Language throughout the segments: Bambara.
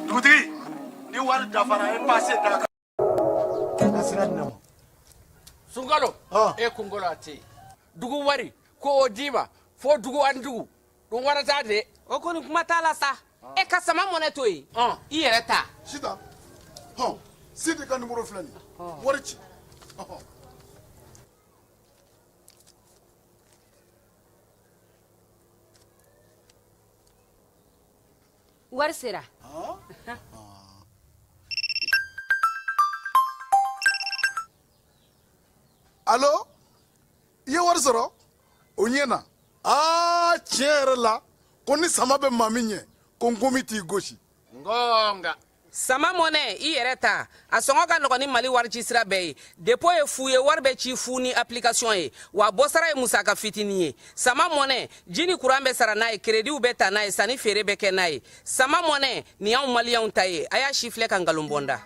dugutigi ni wari dafara e pase da kan. ka sira di ne ma. sunkalo e kunkolo a tɛ yen dugu wari ko o d'i ma fo dugu ani dugu don wɛrɛ t'a de. o kɔni kuma t'a la sa. e ka sama mɔnɛ to yen i yɛrɛ ta. sita hɔn sidi ka nimoro filɛ nin ye wari ci. wari sera alo i ye wari sɔrɔ o ɲɛna aa tiɲɛ yɛrɛ la ko ni sama bɛ maa min ɲɛ ko nkomi t'i gosi nka sama mɔnɛ i yɛrɛ ta a sɔngɔ ka nɔgɔn ni mali warici sira bɛɛ ye depo ye fu ye wari bɛ ci fu ni application ye wa bɔsara ye musaka fitini ye sama mɔnɛ ji ni kuran bɛ sara n'a ye kerediw bɛ ta n'a ye sanni feere bɛ kɛ n'a ye sama mɔnɛ nin y'anw maliyɛnw ta ye a y'a sifilɛ ka nkalon bɔ n da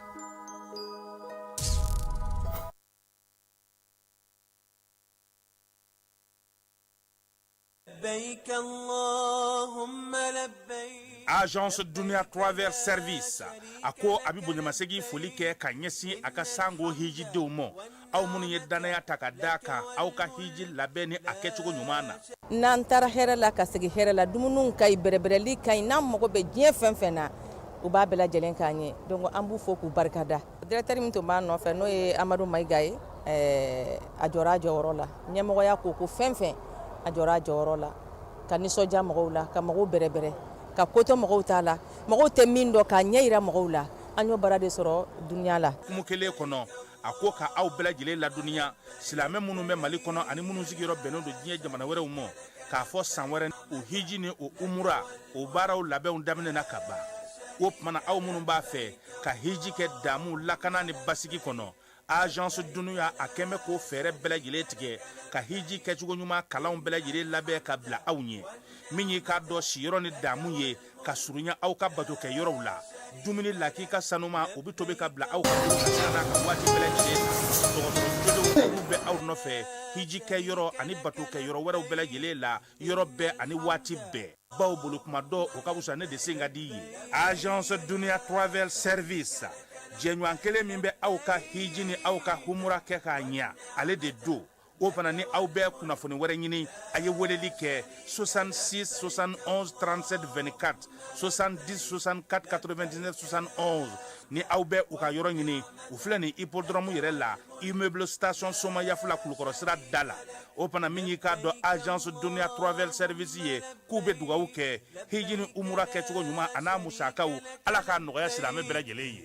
agence dunia travel service a ko a bɛ bonyamasegin foli kɛ ka ɲɛsin a ka sango hijidenw ma aw minnu ye dannaya ta ka d'a kan aw ka hiji labɛn ni a kɛcogo ɲuman na n'an taara hɛrɛ la ka segin hɛrɛ la dumuniw ka ɲi bɛrɛbɛrɛli ka ɲi n'an mago bɛ diɲɛ fɛn fɛn na u b'a bɛɛ lajɛlen k'an ye donc an b'u fo k'u barika da directeur min tun b'a nɔfɛ n'o ye amadu mayiga ye a jɔra a jɔyɔrɔ la ɲɛmɔgɔya ko o ko fɛn fɛn a jɔra a jɔyɔrɔ la ka nisɔndiya mɔgɔw la ka mɔgɔw bɛrɛbɛrɛ ka koto mɔgɔw ta la mɔgɔw tɛ min dɔn k'a ɲɛ yira mɔgɔw la an y'o baara de sɔrɔ duniya la hukumu kelen kɔnɔ a ko k'aw bɛɛ lajɛlen ladɔnniya silamɛ minnu bɛ mali kɔnɔ ani minnu sigiyɔrɔ bɛnnen don diɲɛ jamana wɛrɛw ma k'a fɔ san wɛrɛ o hiji ni o umura o baaraw labɛnw daminɛna ka ban o tuma na aw minnu b'a fɛ ka hiji kɛ daamu lakana ni basigi kɔnɔ agence dunia a kɛmɛ k'o fɛɛrɛ bɛɛ lajɛlen tigɛ ka hiji kɛcogo ɲuman kalanw bɛɛ lajɛlen labɛn ka bila aw ɲɛ min y'i k'a dɔn siyɔrɔ ni daamu ye ka surunya aw ka bato kɛ yɔrɔw la dumuni lakika sanuma o bɛ tobi ka bila aw ka bolo kan waati bɛɛ lajɛlen dɔgɔtɔrɔ jɔlenw bɛ aw nɔfɛ hiji kɛ yɔrɔ ani bato kɛ yɔrɔ wɛrɛw bɛɛ lajɛlen la yɔrɔ bɛɛ ani waati bɛɛ bawo bolo kuma dɔn o ka wusa ne de sen ka di ye agence dunia travel service jɛɲɔgɔn kelen min bɛ aw ka hiji ni aw ka humura kɛ k'a ɲɛ ale de don o fana ni aw bɛ kunnafoni wɛrɛ ɲini a ye weleli kɛ 66 71 37 24 70 64 99 71 ni aw bɛ u ka yɔrɔ ɲini u filɛ nin hippodrome yɛrɛ la immeuble station somayaf la kulukɔrɔ sira da la o fana min y'i k'a dɔn azansi dunya turaɛli seɛrɛsi ye k'u bɛ dugawu kɛ hji ni umu kɛcogo ɲuman ani n'a musakaw ala k kaa nɔgɔya siri an bɛ bɛ lajɛlen ye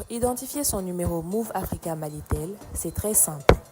idsi sɔn niberew minnu fɛ ka mali tɛ se san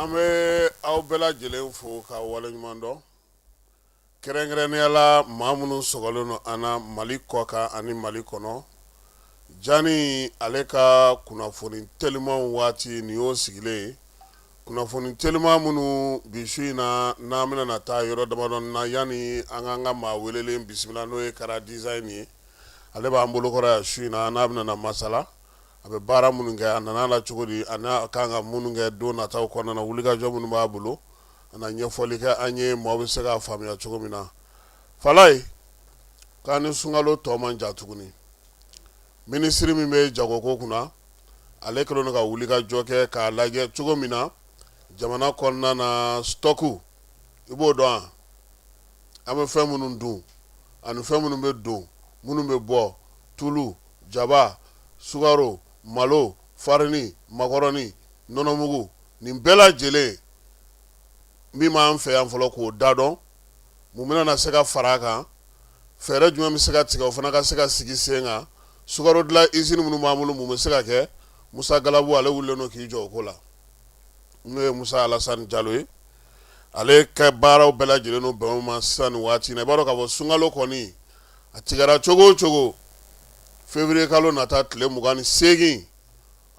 an bɛ aw bɛɛ lajɛlen fo ka waleɲuman dɔn kɛrɛnkɛrɛnnenyala maa minnu sɔgɔlen don an na mali kɔkan ani mali kɔnɔ jani ale ka kunnafoni teliman waati n'i y'o sigilen ye kunnafoni teliman minnu bi su in na n'an bɛna na taa yɔrɔ damadɔ na yanni an k'an ka maa welelen bisimila n'o ye kara design ye ale b'an bolokɔrɔ yan su in na n'a bɛna na masala a bɛ baara minnu kɛ a nana la cogo di a n'a ka kan ka minnu kɛ don nataw kɔnɔna na wulikajɔ minnu b'a bolo a na ɲɛfɔli kɛ an ye maaw bɛ se k'a faamuya cogo min na fala ye k'an ni sunkalo tɔ man jan tuguni minisiri min bɛ jagoko kunna ale kɛlen don ka wulikajɔ kɛ k'a lajɛ cogo min na jamana kɔnɔna na stock i b'o dɔn an bɛ fɛn minnu dun ani fɛn minnu bɛ don minnu bɛ bɔ tulu jaba, sukaro, malo, farini, makɔrɔni, nɔnɔmugu, nin bɛɛ lajɛlen min b'an fɛ yan fɔlɔ k'o da dɔn, mun bɛna na se ka fara a kan, fɛɛrɛ jumɛn bɛ se ka tigɛ o fana ka se ka sigi sen kan, sukaro dilan izini minnu b'an bolo mun bɛ se ka kɛ, Musa Galabu ale wulilen don k'i jɔ o ko la, n'o ye Musa Alasani Jalo ye. ale ka baaraw bɛɛ lajɛlen n'o bɛn ma sisan nin waati i b'a dɔn k'a fɔ sunkalo kɔni a tigɛra cogo o cogo février kalo nata tile mugan ni segin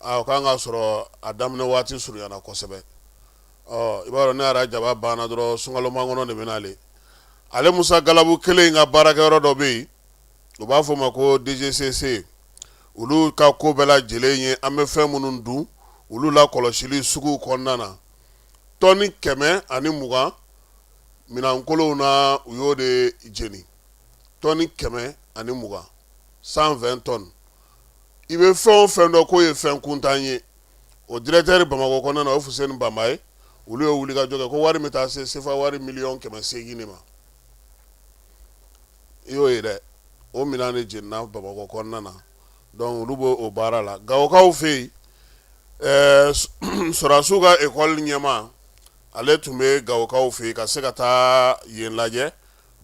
o kan k'a sɔrɔ a daminɛ waati surunyana kosɛbɛ i b'a dɔn n'i ye rajaba banna dɔrɔn sunkalo makɔnɔ de bɛ na ale ale musa galabu kelen in ka baarakɛ yɔrɔ dɔ bɛ yen u b'a fɔ ma ko DGCC olu ka ko bɛɛ lajɛlen ye an bɛ fɛn minnu dun olu lakɔlɔsili sugu kɔnɔna na tɔni kɛmɛ ani mugan minɛnkolonw na u y'o de jeni tɔni kɛmɛ ani mugan cent vingt tonnes i bɛ fɛn o fɛn dɔn k'o ye fɛn kuntan ye o dirɛkitɛri bamakɔ kɔnɔna na o fuseni banba ye olu ye wulikajɔ kɛ k'o wari bɛ taa se sefa wari miliyɔn kɛmɛ segin de ma i y'o ye dɛ o minɛn de jenina bamakɔ kɔnɔna na dɔnku olu b'o o baara la gawokaw fɛ yen ɛɛ sɔrɔdasiw ka ekɔli ɲɛmaa ale tun bɛ gawokaw fɛ yen ka se ka taa yen lajɛ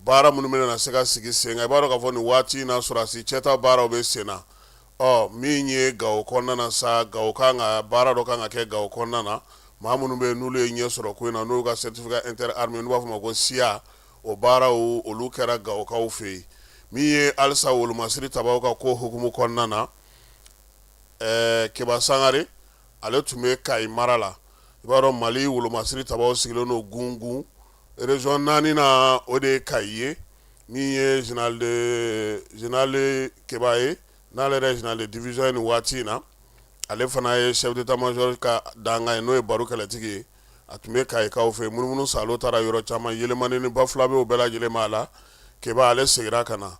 baara minnu bɛna na se ka sigi sen kan i b'a dɔn k'a fɔ nin waati in na sɔrɔdasi cɛta baaraw bɛ sen na ɔ min ye gawo kɔnɔna na sa gawo kan ka baara dɔ kan ka kɛ gawo kɔnɔna na maa minnu bɛ yen n'olu ye ɲɛ sɔrɔ ko in na n'u ka certificat inter armée n'u b'a fɔ o ma ko CIA o baaraw olu kɛra gawokaw fɛ yen min ye halisa wolomasiri tabaw ka ko hukumu kɔnɔna na ɛɛ keba sangare ale tun bɛ kayi mara la i b'a dɔn mali wolomasiri tabaw sigilen don gungun région naani na o de ye kayi ye min ye général keba ye n'ale yɛrɛ général de division ye nin waati in na ale fana ye chef d'état-major ka dankan ye n'o ye baru kɛlɛtigi ye a tun bɛ kayikaw fɛ munumunu salo taara yɔrɔ caman yelimani ni bafulabɛ bɛɛ lajɛlen b'a la keba ale seginna ka na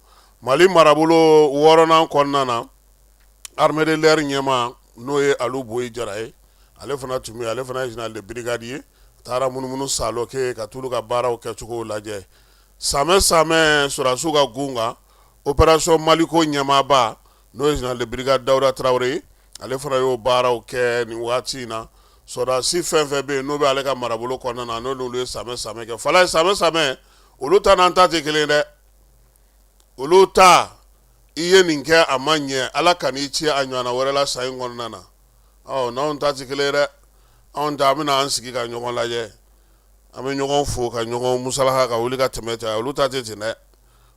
mali marabolo wɔɔrɔnan kɔnɔna na armée de l'air ɲɛmaa n'o ye alu bɔyi jara ye ale fana tun ale fana ye brigade ye taara munumunu salo kɛ ka t'olu ka baaraw kɛcogo lajɛ samɛ samɛ sɔrɔdasiw ka gun kan opération maliko ɲɛmaaba n'o ye général de brigade Dawuda Tarawele ye, ale fana y'o baaraw kɛ nin waati in na, sɔrɔdasi fɛn o fɛn bɛ yen n'o bɛ ale ka marabolo kɔnɔna na, n'olu ye samɛ samɛ kɛ, fala ye samɛ samɛ, olu ta n'an ta tɛ kelen ye dɛ, olu ta i ye nin kɛ a ma ɲɛ, Ala ka n'i ci a ɲɔgɔnna wɛrɛ la san in kɔnɔna na, ɔ n'anw ta tɛ kelen ye dɛ, anw ta an bɛna an sigi ka ɲɔgɔn lajɛ, an bɛ ɲɔgɔn fo ka ɲɔgɔn musalaha ka wuli ka tɛmɛ ten, olu ta tɛ ten dɛ.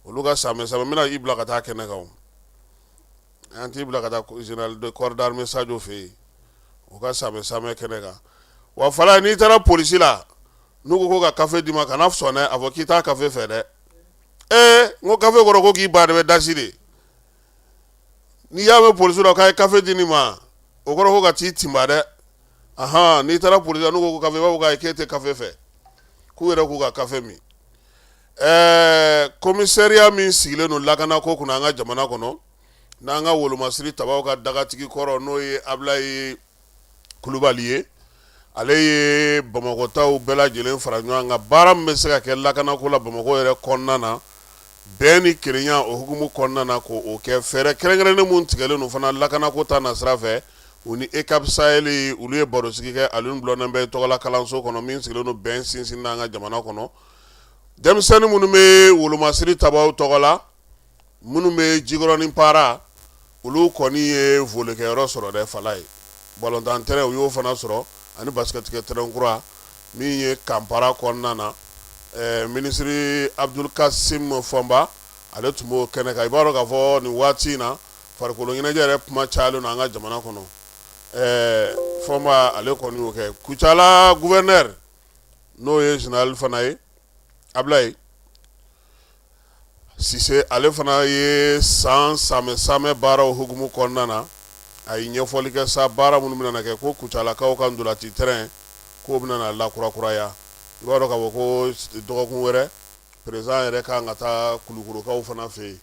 olu ka samɛ samɛ n bɛna i bila ka taa kɛnɛ kan an t'i bila ka taa corps d'armée sajɔ fɛ yen o ka samɛ samɛ kɛnɛ kan wa fana n'i taara polisi la n'u ko ko ka kafe d'i ma kana sɔn dɛ a fɔ k'i tɛ kafe fɛ dɛ ee n ko kafe kɔrɔ ko k'i ba de bɛ dasi de n'i y'a mɛn polisi la k'a ye kafe di nin ma o kɔrɔ ko ka t'i tinba dɛ aɔn n'i taara polisi la n'u ko kafe i b'a fɔ k'a ye k'e tɛ kafe fɛ k'u yɛrɛ k'u ka kafe min Ɛɛ commissariat min sigilen don lakanako kunna an ka jamana kɔnɔ n'an ka wolomasiri tabaw ka dagatigi kɔrɔ n'o ye abulayi kulubali ye ale ye bamakɔtaw bɛɛ lajɛlen fara ɲɔgɔn kan baara min bɛ se ka kɛ lakanako la bamakɔ yɛrɛ kɔnɔna na bɛn ni kelenya o hukumu kɔnɔna na k'o kɛ fɛɛrɛ kɛrɛnkɛrɛnnen minnu tigɛlen don fana lakanako ta nasira fɛ u ni EUCAP Sahel olu ye barosigi kɛ Alioune Blondin Beye tɔgɔla kalanso kɔnɔ min sigilen don bɛn sinsin n' an ka jamana kɔnɔ denmisɛnnin minnu bɛ wolomasiri tabaw tɔgɔ la minnu bɛ jikɔrɔni para olu kɔni ye volikɛyɔrɔ sɔrɔ dɛ fala ye balontan tɛrɛn u y'o fana sɔrɔ ani basikɛtikɛ tɛrɛn kura min ye camp para kɔnɔna na minisiri abudulu kasimu fɔnba ale tun b'o kɛnɛ kan i b'a dɔn k'a fɔ nin waati in na farikolo ɲɛnajɛ yɛrɛ kuma cayalen don an ka jamana kɔnɔ fɔnba ale kɔni y'o kɛ kucala gouverneur n'o ye général fana ye Ablaye Sise ale fana ye san samɛ samɛ baaraw hukumu kɔnɔna na a ye ɲɛfɔli kɛ sa baara minnu bɛna kɛ ko Kucalakaw ka ndolati terrain k'o bɛna lakurakuraya i b'a dɔn k'a fɔ ko dɔgɔkun wɛrɛ président yɛrɛ ka kan ka taa Kulukorokaw fana fɛ yen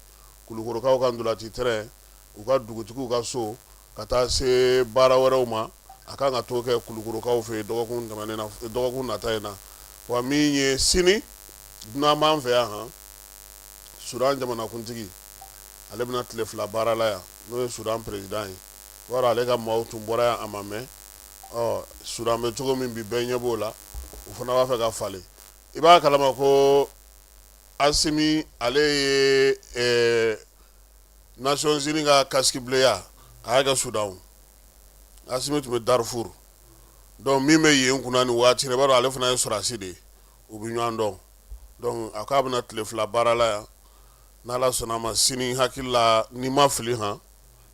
Kulukorokaw ka ndolati terrain u ka dugutigiw ka so ka taa se baara wɛrɛw ma a ka kan ka t'o kɛ Kulukorokaw fɛ dɔgɔkun dɔgɔkun nata in na wa min ye sini dunan b'an fɛ yan han Soudan jamanakuntigi ale bɛna tile fila baara la yan n'o ye Soudan président ye wala ale ka maaw tun bɔra yan a ma mɛn Soudan bɛ cogo min bi bɛɛ ɲɛ b'o la u fana b'a fɛ ka falen i b'a kalama ko Assimi ale ye Nations Unies ka casque bleu ya a y'a kɛ Soudan o Assimi tun bɛ Darfour donc min bɛ yen kunna nin waati la i b'a dɔn ale fana ye sɔrɔdasi de ye u bɛ ɲɔgɔn dɔn donc a k'a bɛna tile fila baara la yan n'Ala sɔnna a ma sini n hakili la ni n ma fili han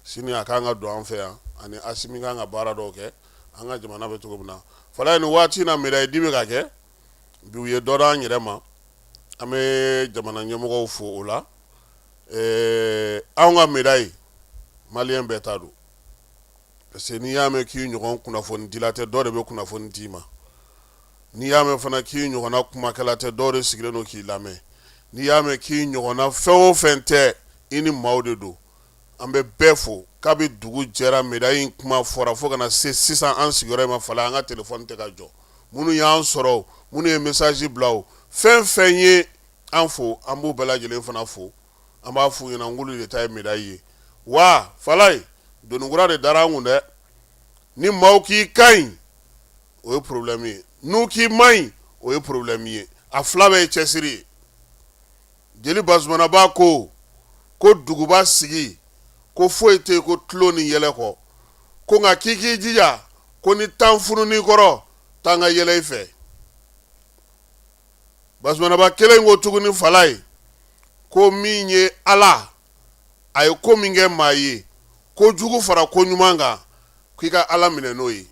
sini a kan ka don an fɛ yan ani Assimi ka kan ka baara dɔw kɛ an ka jamana bɛ cogo min na fɔlɔ nin waati in na médaille di bɛ ka kɛ bi u ye dɔ d'an yɛrɛ ma an bɛ jamana ɲɛmɔgɔw fo o la anw ka médaille maliyɛn bɛɛ ta don parce que n'i y'a mɛn k'i ɲɔgɔn kunnafonidila tɛ dɔ de bɛ kunnafoni d'i ma n'i y'a mɛn fana k'i ɲɔgɔnna kumakɛla tɛ dɔ de sigilen don k'i lamɛn n'i y'a mɛn k'i ɲɔgɔnna fɛn o fɛn tɛ i ni maaw de don an bɛ bɛɛ fo kabi dugu jɛra médaille in kuma fɔra fo ka na se sisan an sigiyɔrɔ in ma Falaye an ka téléphone tɛ ka jɔ minnu y'an sɔrɔ minnu ye message bila fɛn fɛn ye an fo an b'u bɛɛ lajɛlen fana fo an b'a f'u ɲɛna k'olu de ta ye médaille ye wa Falaye doni kura de dara an kun dɛ ni maaw k'i ka ɲi o ye porobilɛmi ye n'u k'i man ɲi o ye porobilɛmi ye a fila bɛɛ ye cɛsiri ye jeli Bazumanaba ko ko duguba sigi ko foyi tɛ ko tulon ni yɛlɛ kɔ ko nka k'i k'i jija ko ni tan funun'i kɔrɔ tan ka yɛlɛ i fɛ Bazumanaba kelen ko tuguni Falaye ko min ye ala a ye ko min kɛ maa ye ko jugu fara ko ɲuman kan k'i ka ala minɛ n'o ye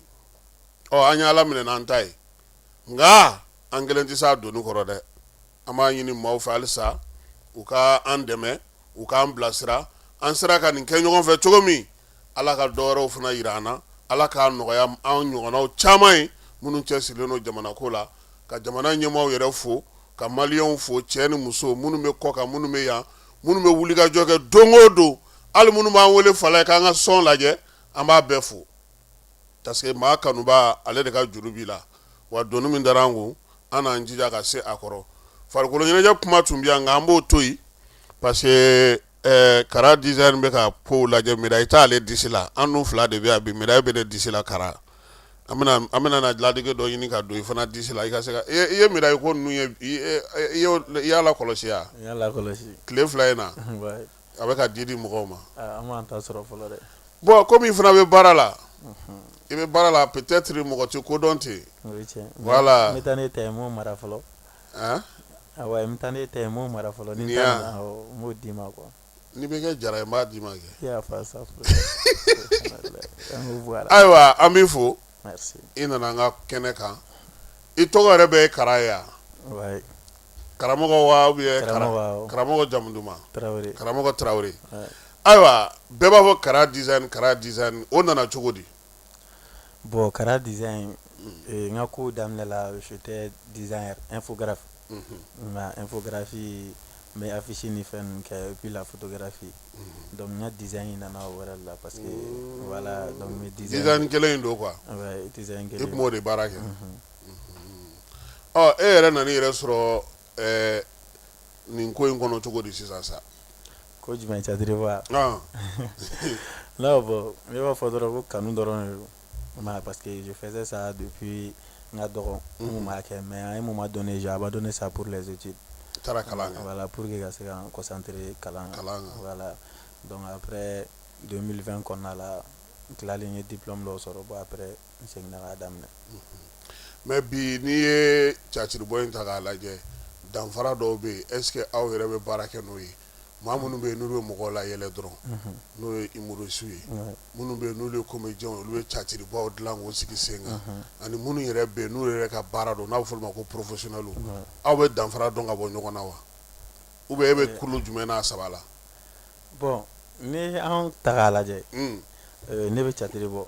ɔ an ye ala minɛ n'an ta ye nka an kelen tɛ se a doni kɔrɔ dɛ An b'a ɲini maaw fɛ halisa u ka an dɛmɛ u k'an bilasira an sera ka nin kɛ ɲɔgɔn fɛ cogo min ala ka dɔ wɛrɛw fana yira an na ala k'a nɔgɔya an ɲɔgɔnnaw caman ye minnu cɛsirilen don jamana ko la ka jamana ɲɛmaaw yɛrɛ fo ka maliyɛnw fo cɛ ni muso minnu bɛ kɔkan minnu bɛ yan minnu bɛ wulikajɔ kɛ don o don hali minnu b'an wele Falaye k'an ka sɔn lajɛ an b'a bɛɛ fo Parce que maa kanuba ale de ka juru b'i la wa doni min dara an kun an n'an jija ka se a kɔrɔ farikolo ɲɛnajɛ kuma tun bɛ yan nka an b'o to yen parce que ɛɛ Kara design bɛ ka kow lajɛ médaille t'ale disi la an n'u fila de bɛ yan bi médaille bɛ ne disi la Kara an bɛna an bɛna na ladege dɔ ɲini ka don i fana disi la i ka se ka i ye i ye médaille ko ninnu ye i i y'o i y'a lakɔlɔsi wa? n y'a lakɔlɔsi tile fila in na. a bɛ ka di di mɔgɔw ma bon comme i fana bɛ baara la i bɛ baara la peut-être mɔgɔ tɛ ko dɔn ten voilà taa ne ta mara fɔlɔ taa ne ta mara fɔlɔ n b'o d'i ma quoi n'i bɛ kɛ jara ye n b'a d'i ma kɛ ayiwa an b'i fo i nana an ka kɛnɛ kan i tɔgɔ yɛrɛ de ye Kara ye karamɔgɔ wa ou bien Karamɔgɔ Kara awɔ karamɔgɔ jamu duman Tarawele karamɔgɔ Tarawele ouais ayiwa bɛɛ b'a fɔ Kara design Kara design o nana cogo di bon Kara design ee n ka kow daminɛ la j'étais designer infographe unhun n ka infographie n bɛ affiche ni fɛn ninnu kɛ et puis la photographie unhun donc n ka design in nana o yɛrɛ de la parce que voilà donc n bɛ design design kelen in don quoi ouais design kelen in i tun b'o de baara kɛ unhun Ɔ e yɛrɛ nana yɛrɛ sɔrɔ nin ko in kɔnɔ cogo di sisan sa ko jumɛn cadiri wa n'a bɔ n b'a fɔ dɔrɔn ko kanu dɔrɔn don parce que jo fɛn sa de bi n ka dɔgɔn b'a kɛ mɛ a ye mun ma dɔn ne a b'a dɔn ne sa poro lajɛti taara kalan la pur que ka se ka kɔsantere kalan kalan la dɔnkuc apɛ donfɛn kɔnɔna la tilalen ye dip dɔw sɔrɔ bɔn apɛ mais bi n'i ye catiribɔ in ta k'a lajɛ danfara dɔw bɛ yen est-ce que aw yɛrɛ bɛ baara kɛ n'o ye maa minnu bɛ yen n'olu bɛ mɔgɔ layɛlɛ dɔrɔn n'o ye humoristes ye minnu bɛ yen n'olu ye comédiens ye olu bɛ catiribɔw dilan k'u sigi sen kan ani minnu yɛrɛ bɛ yen n'u yɛrɛ ka baara don n'a bɛ fɔ olu ma ko professionnels aw bɛ danfara don ka bɔ ɲɔgɔn na wa ou bien e bɛ kulu jumɛn na a saba la bon ni an ta k'a lajɛ ne bɛ catiri bɔ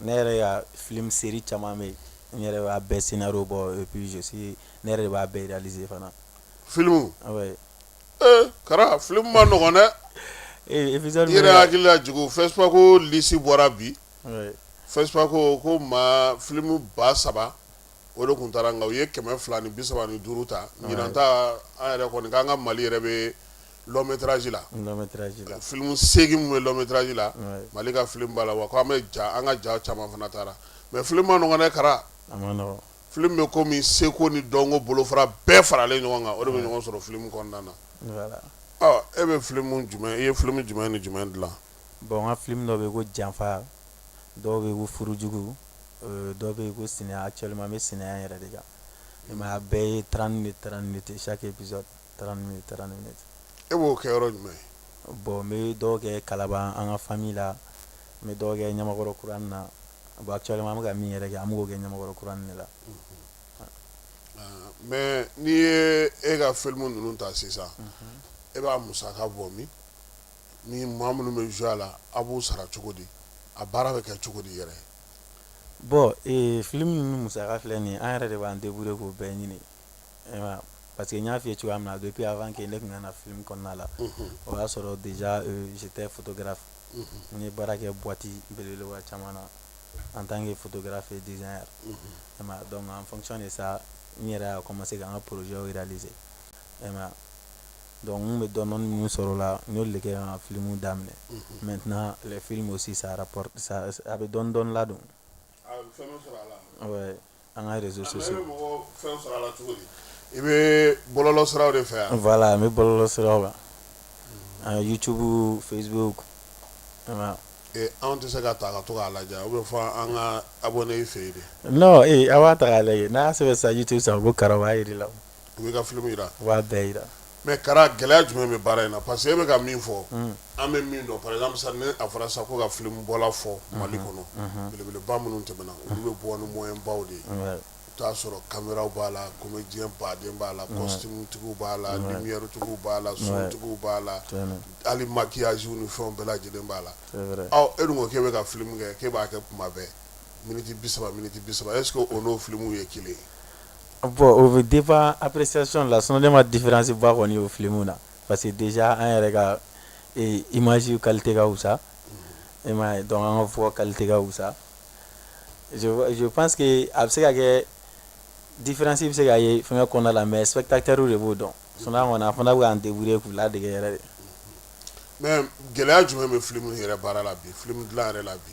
ne yɛrɛ ka film série caman bɛ yen n yɛrɛ b'a bɛɛ scénario bɔ et puis ne yɛrɛ de b'a bɛɛ réaliser fana film Kara film man nɔgɔ dɛ e ye n hakili lajigi FESPACO lisi bɔra bi FESPACO maa filimu ba saba o de tun taara nka u ye kɛmɛ fila ni bi saba ni duuru ta ɲinan ta an yɛrɛ kɔni k'an ka Mali yɛrɛ bɛ long métrage la filimu segin minnu bɛ long métrage la mali ka filimu b'a la wa k' an bɛ ja an ka ja caman fana taara mais filimu man nɔgɔn ɛ kara filimu bɛ ko min seko ni dɔnko bolofara bɛɛ faralen ɲɔgɔn kan o de bɛ ɲɔgɔn sɔrɔ filimu kɔnɔna na e bɛ filimu jumɛn i ye filimu jumɛn ni jumɛn dilan bon an ka filimu dɔ bɛ ko janfa dɔw bɛ ko furujugu dɔw bɛ ko sɛnɛ actuellement n bɛ sɛnɛ yɛrɛ de kan bɛɛ ye trente minutes trente minutes chaque e b'o kɛ yɔrɔ jumɛn ye bon n bɛ dɔw kɛ kalaban an ka famille la n bɛ dɔw kɛ ɲamakɔrɔ kuranin na a bon actuellement n bɛ ka min yɛrɛ kɛ an b'o kɛ ɲamakɔrɔ kuranin de la mais n'i ye e ka filimu ninnu ta sisan e b'a musaka bɔ min ni maa minnu bɛ jouer a la a b'u sara cogo di a baara bɛ kɛ cogo di yɛrɛ bon filimu ninnu musaka a filɛ nin an yɛrɛ de b'an débrouiller k'o bɛɛ ɲini Pa que n y'a fɔye cogoya min na a bɛ ppiyanfan kɛ ne tun ka fi kɔnɔna la o y'a sɔrɔ si tɛ kɛra n ye baara kɛ buwati belewa caman na an tan kɛ kɛra fɛ diz yan dɔn an fɔc de sa n yɛrɛ a ma se ka an ka pzy jira aliz dɔnku bɛ dɔn ninnu sɔrɔ la n'o de kɛ ka filimu daminɛ mɛ tɛna fi sisan a bɛ dɔndɔn ladon an ka réseaux sociaux i bɛ mɔgɔ fɛn sɔrɔ a la cogo di i bɛ bɔlɔlɔ siraw de fɛ yan voilà n bɛ bɔlɔlɔ siraw kan an YouTube Facebook i m'a ye. anw tɛ se ka ta ka to k'a lajɛ ou bien fɔ an ka abonné i fɛ yen de. non ee a b'a ta k'a lajɛ n'a y'a sɛbɛn sisan YouTube sanfɛ ko kara o b'a jira i la. u bɛ ka film jira, u b'a bɛɛ jira mais Kara gɛlɛya jumɛn bɛ baara in na parce que e bɛ ka min fɔ, unhun, an bɛ min dɔn par exemple sisan ni a fɔra sisan ko ka film bɔla fɔ Mali kɔnɔ, unhun, belebeleba minnu tɛmɛna olu bɛ bɔ ni moyens baw de ye, wɛ, i bɛ t'a sɔrɔ camera b'a la comédien baw de b'a la costume tigiw b'a la lumière tigiw b'a la son tigiw b'a la hali maquillage ni fɛnw bɛɛ lajɛlen b'a la, c'est vrai, ɔ e dun ko k'e bɛ ka film kɛ k'e b'a kɛ tuma bɛɛ minutes 30 minutes 30 est ce que o n'o film ye kelen ye? Bon o bɛ dépend appréciation la sinon ne ma différence ba kɔni o filimu minnu na parce que déjà an yɛrɛ ka image qualité ka wusa e ma donc an ka voix qualité ka wusa je pense que a bɛ se ka kɛ différence bɛ se ka ye fɛn kɔnɔna la mais spectateur de b'o dɔn sinon an kɔni an fana bɛ k'an débrouiller k'u ladege yɛrɛ de mais gɛlɛya jumɛn bɛ filimu yɛrɛ baara la bi filimu dilan yɛrɛ la bi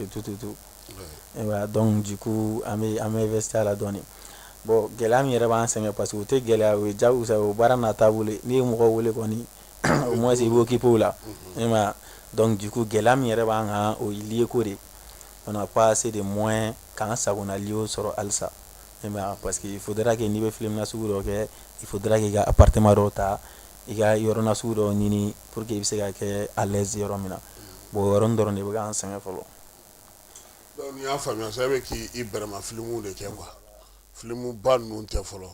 et tout et tout donc du coup an bɛ an bɛ investir a la dɔɔnin bon gɛlɛya min yɛrɛ b'an sɛgɛn parce que o tɛ gɛlɛya o ye ja sa o baara n'a taabolo n'i ye mɔgɔ wele kɔni au moins i b'o occuper o la e ma donc du coup gɛlɛya min yɛrɛ b'an kan o ye lieu ko de pas assez de moyens k'an sagonna lieu sɔrɔ halisa e parce que il faudra que n'i bɛ filimu nasugu dɔ kɛ il faudra k'i ka appartement dɔw ta i ka yɔrɔ nasugu dɔ ɲini pour que i bɛ se ka kɛ à l'aise yɔrɔ min na bon o yɔrɔnin dɔrɔn de bɛ k'an sɛgɛn fɔlɔ. Donc n'i y'a faamuya sa e bɛ k'i bɛrɛma filimuw de kɛ quoi filimu ba ninnu tɛ fɔlɔ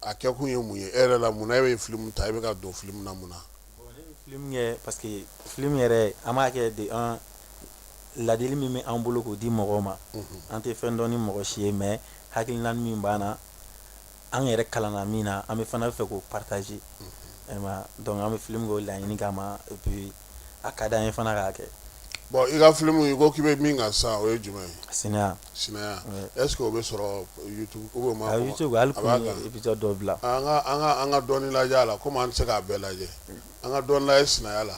a kɛkun ye mun ye e yɛrɛ la mun na e bɛ filimu ta e bɛ ka don filimu na mun na. Bon ne bɛ filimu kɛ parce que filimu yɛrɛ an b'a kɛ de an ladili min bɛ an bolo k'o di mɔgɔw ma an tɛ fɛn dɔn ni mɔgɔ si ye mais hakilina min b'an na an yɛrɛ kalanna min na an bɛ fana fɛ k'o partager donc an bɛ filimu k'o laɲini kama et puis a ka di an ye fana k'a kɛ bon i ka filimu i ko k'i bɛ min kan sa o ye jumɛn ye Sinaya est-ce que o bɛ sɔrɔ YouTube ou bien YouTube épisode dɔ bila an ka dɔɔnin lajɛ a la komi an tɛ se k'a bɛɛ lajɛ an ka dɔɔnin lajɛ Sinaya la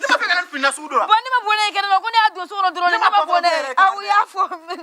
Ne ma fɛ ka ne fini nasugu dɔ la. bon ne ma bɔ n'a ye kɛnɛ ma ko ne y'a don so kɔnɔ dɔrɔn ne ma bɔ n'a ye aw y'a fɔ mais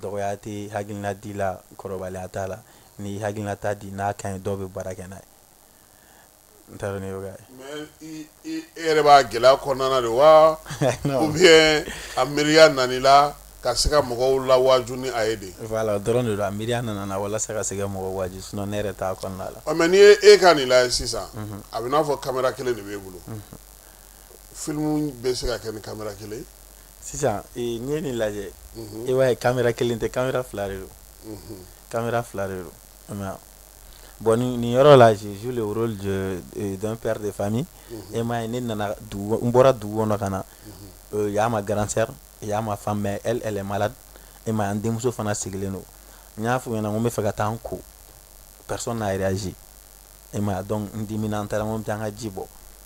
dɔgɔya tɛ hakilina di la kɔrɔbaliya t'a la ni hakilina t'a di n'a ka ɲi dɔw bɛ baara kɛ n'a ye n t'a dɔn n'i y'o kɛ mais i i e yɛrɛ b'a gɛlɛya kɔnɔna na de wa non. ou bien a miiriya nana i la ka se ka mɔgɔw lawaaju ni a ye de voilà o dɔrɔn de don a miiriya nana n na walasa ka se ka mɔgɔw waaju sinon ne yɛrɛ t'a kɔnɔna la ɔ mais n'i ye e ka nin lajɛ sisan a bɛ n'a fɔ kamera kelen de b'e bolo filimu bɛ se ka kɛ ni kamera kelen ye sisan ee, n'i ye nin lajɛ Mhm. i b'a ye kamera kelen tɛ kamera fila de don Mhm. kamera fila de don i m'a ye bon nin nin yɔrɔ la je joue le rôle de euh, d'un père de famille Mhm. e m'a ye ne nana dugu n bɔra dugu kɔnɔ ka na euh, y'a ma grande sœur y'a ma femme mais elle elle est malade e m'a ye n denmuso fana sigilen don n y'a f'u ɲɛna n ko n bɛ fɛ ka taa n ko personne n'a réagi e m'a donc n dimina n taara n ko n bɛ taa n ka ji bɔ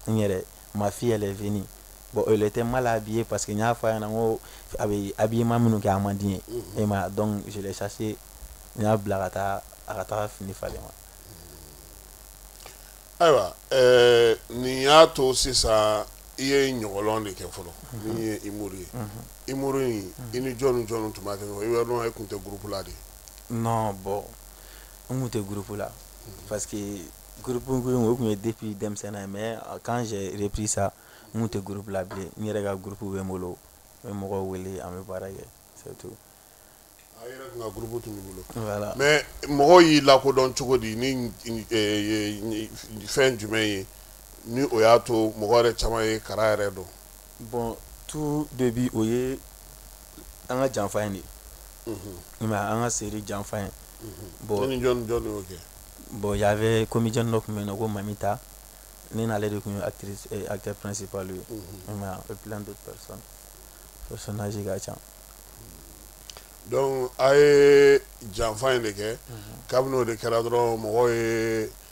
n yɛrɛ ma fille elle est venue bon elle était mal habillée parce que n y'a fɔ a ɲɛna n ko a bɛ habillement minnu kɛ a man di n ye e m'a donc je l'ai chassée n y'a bila ka taa a ka taa fini falen ma ayiwa nin y'a to sisan i ye Ɲɔgɔlɔn de kɛ fɔlɔ min ye humour ye humour in i ni jɔn ni jɔn tun b'a kɛ e tun tɛ groupe la de bon n tun tɛ groupe la parce que groupe ko in o tun ye depuis denmisɛnnin ye mais quand j'ai repris ça n tun tɛ groupe la bilen n yɛrɛ ka groupe bɛ n bolo n bɛ mɔgɔw wele an bɛ baara kɛ c'est tout a yɛrɛ tun ka groupe tun b'i bolo voilà mais mɔgɔw y'i lakodɔn cogo di ni fɛn jumɛn ye ni o y'a to mɔgɔ yɛrɛ caman ye kara yɛrɛ dɔn bon tout début o ye an ka janfa in de nka an ka seri janfa in bɔn y'a bɛ komi dɔ tun bɛ na ko mami ta ne n'ale de tun ye akitɛ psi pa ye dɔsɔnz ka ca a ye janfa in de kɛ kabini o de kɛra dɔrɔn mɔgɔ ye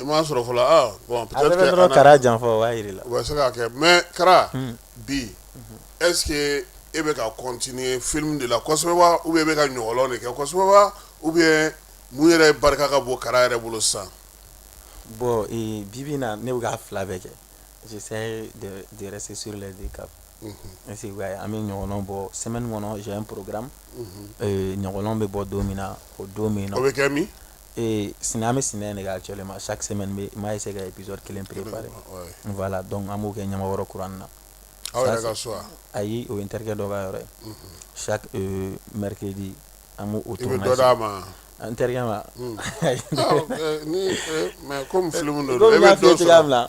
I m'a sɔrɔ fɔlɔ aa bon peut-être que a nana a bɛ dɔrɔn Kara janfa o b'a jira i la o bɛ se ka kɛ mais Kara bi est ce que e bɛ ka continuer film de la kosɛbɛ wa ou bien i bɛ ka ɲɔgɔlɔn de kɛ kosɛbɛ wa ou bien mun yɛrɛ barika ka bon Kara yɛrɛ bolo sisan bon ee bi bi in na ne bɛ k'a fila bɛɛ kɛ j'essaie de de rester sur les deux caps est ce que i b'a ye an bɛ ɲɔgɔlɔn bɔ semaine kɔnɔ j'ai un programme ɲɔgɔlɔn bɛ bɔ don min na o don bɛ yen nɔ o bɛ kɛ min ee sinɛ an bɛ sinɛ in de kɛ actuellement chaque semaine n b'a essayer ka épisode kelen préparer voilà donc an b'o kɛ Ɲamakɔrɔ Kurani na aw yɛrɛ ka so wa ayi o ye n terikɛ dɔ ka yɔrɔ ye chaque euh, mercredi an b'o o tournage i bɛ dɔ d'a ma n terikɛ ma ni mais comme film don i bɛ dɔ sɔrɔ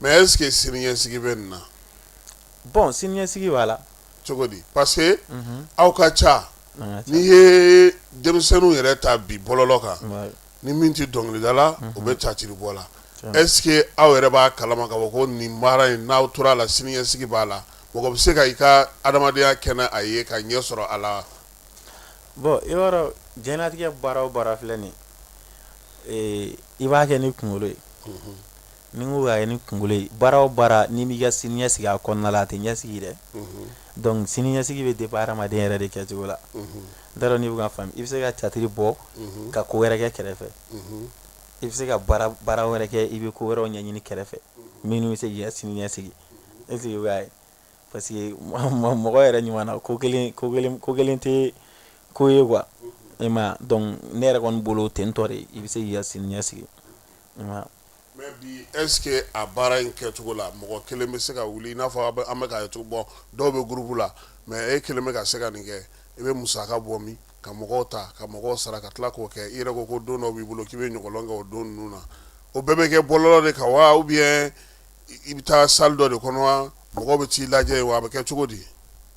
mais est ce que siniɲɛsigi bɛ nin na bon siniɲɛsigi b'a la cogo di parce que aw ka ca n'i ye denmisɛnninw yɛrɛ ta bi bɔlɔlɔ kan ni min tɛ dɔnkili da la o bɛ catiri bɔ la est ce que aw yɛrɛ b'a kalama k'a fɔ ko nin baara in n'aw tora a la siniɲɛsigi b'a la mɔgɔ bɛ se ka i ka adamadenya kɛ n' a ye ka ɲɛ sɔrɔ a la bon i b'a dɔn diɲɛnatigɛ baara o baara filɛ ni i b'a kɛ ni kunkolo ye mhm. ni n ko k'a kɛ ni kunkolo ye baara o baara n'i m'i ka sini ɲɛ sigi a kɔnɔna la a tɛ ɲɛ sigi dɛ donc siniɲɛsigi bɛ dépend hadamaden yɛrɛ de kɛcogo la n t'a dɔn n'i bɛ k'a faamu i bɛ se ka catiri bɔ ka ko wɛrɛ kɛ kɛrɛfɛ i bɛ se ka baara wɛrɛ kɛ i bɛ ko wɛrɛw ɲɛɲini kɛrɛfɛ minnu bɛ se k'i ka sini ɲɛ sigi est ce que i b'a ye parce que mɔgɔ yɛrɛ ɲuman na ko kelen tɛ ko ye quoi i m'a ye donc ne yɛrɛ kɔni bolo ten tɔ de i bɛ se k'i ka sini ɲɛ sigi Mais bi est ce que a baara in kɛcogo la mɔgɔ kelen bɛ se ka wuli i n'a fɔ an bɛ k'a ye cogo bon dɔw bɛ groupe la mais e kelen bɛ ka se ka nin kɛ i bɛ musaka bɔ min ka mɔgɔw ta ka mɔgɔw sara ka tila k'o kɛ i yɛrɛ ko ko don dɔ b'i bolo k'i bɛ ɲɔgɔlɔn kɛ o don ninnu na o bɛɛ bɛ kɛ bɔlɔlɔ de kan wa ou bien i bɛ taa salle dɔ de kɔnɔ wa mɔgɔw bɛ t'i lajɛ wa a bɛ kɛ cogo di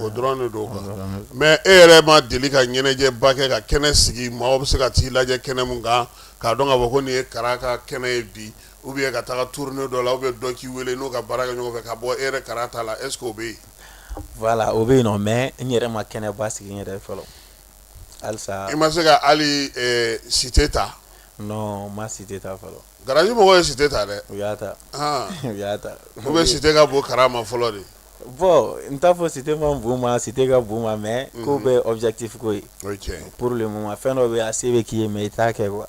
O dɔrɔn de don quoi mais e yɛrɛ ma deli ka ɲɛnajɛba kɛ ka kɛnɛ sigi maaw bɛ se ka t'i lajɛ kɛnɛ min kan k'a dɔn k'a fɔ ko nin ye Kara ka kɛnɛ ye bi ou bien ka taa tournée dɔ la ou bien dɔ k'i weele n'o ka baara kɛ ɲɔgɔn fɛ ka bɔ e yɛrɛ Kara ta la est-ce que o bɛ yen voilà o bɛ yen nɔ mais n yɛrɛ ma kɛnɛ ba sigi n yɛrɛ fɔlɔ halisa i ma se ka hali cité ta non n ma cité ta fɔlɔ Garaji mɔgɔw ye cité ta dɛ u y'a ta u y'a ta ou bien cité ka bon Kara ma fɔlɔ de bon n t'a fɔ cité man bon n ma cité ka bon n ma mais ko bɛɛ objectif ko ye pour le moment fɛn dɔ bɛ a se bɛ k'i ye mais i t'a kɛ quoi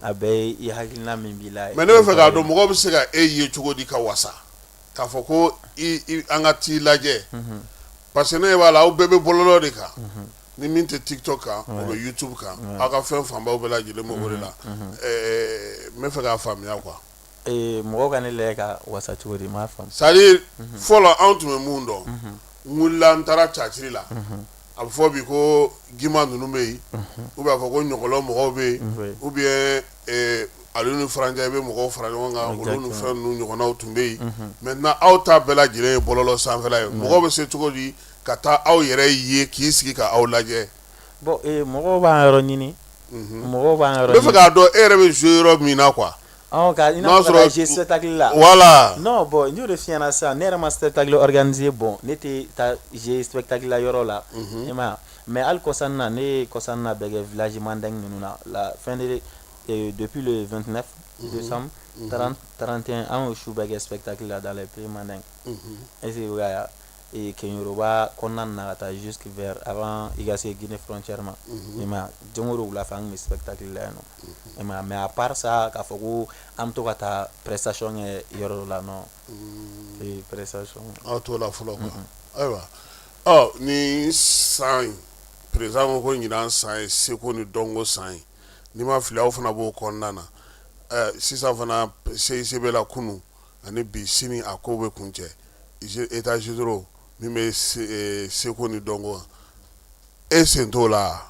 a bɛɛ i hakilina min b'i la mais ne bɛ fɛ k'a dɔn mɔgɔ bɛ se ka e ye cogo di ka wasa k'a fɔ ko an ka t'i lajɛ parce que ne b'a la aw bɛɛ bɛ bɔlɔlɔ de kan ni min tɛ tiktok kan o bɛ youtube kan aw ka fɛn fanbaw bɛɛ lajɛlen bɛ o de la n bɛ fɛ k'a faamuya quoi ee mɔgɔw ka ne lajɛ ka wasa cogo di n m'a faamu c'est à dire fɔlɔ anw tun bɛ mun dɔn n wulila n taara caciri la a bɛ fɔ bi ko Gima ninnu bɛ yen ou bien a fɔ ko Ɲɔgɔlɔn mɔgɔw bɛ yen ou bien ale ni farancɛ bɛ mɔgɔw fara ɲɔgɔn kan olu ni fɛn ninnu ɲɔgɔnnaw tun bɛ yen maintenant aw ta bɛɛ lajɛlen ye bɔlɔlɔ sanfɛla ye mɔgɔw bɛ se cogo di ka taa aw yɛrɛ ye k'i sigi ka aw lajɛ bon ee mɔgɔw b'an yɔrɔ ɲini mɔgɔw b'an yɔrɔ bɛ fɛ k'a dɔn e yɛrɛ bɛ zo yɔrɔ min na qu n'a sɔrɔ tali la wala n'o bɔn n'o de fiyɛnana sa ne yɛrɛ ma se tali danze bɔn ne tɛ taa ze takila yɔrɔ la e ma mɛ ali kɔsan na ne ye kɔsan na bɛ kɛ vlasiman da ninnu na la fɛn de donp ye2tinɛ san trante an su bɛɛ kɛ takila da la i pereman da ese ee Kenyoroba kɔnɔna na ka taa jusque vers avant i ka se Guinée frontière ma, unhun, i m'a ye wa, don o don wula fɛ an tun bɛ spectacle la yen nɔ, unhun, i m'a ye wa, mais à part ça k'a fɔ ko an bɛ to ka taa prestation kɛ yɔrɔ dɔ la non, ee prestation aw t'o la fɔlɔ quoi ayiwa, ɔ nin san in président ko ko ɲinan san ye seko ni dɔnko san ye, ni n ma fili aw fana b'o kɔnɔna na, ɛ sisan fana CICB la kunun ani bi sini a ko bɛ kuncɛ états généraux min bɛ seko ni dɔnko kan e sen t'o la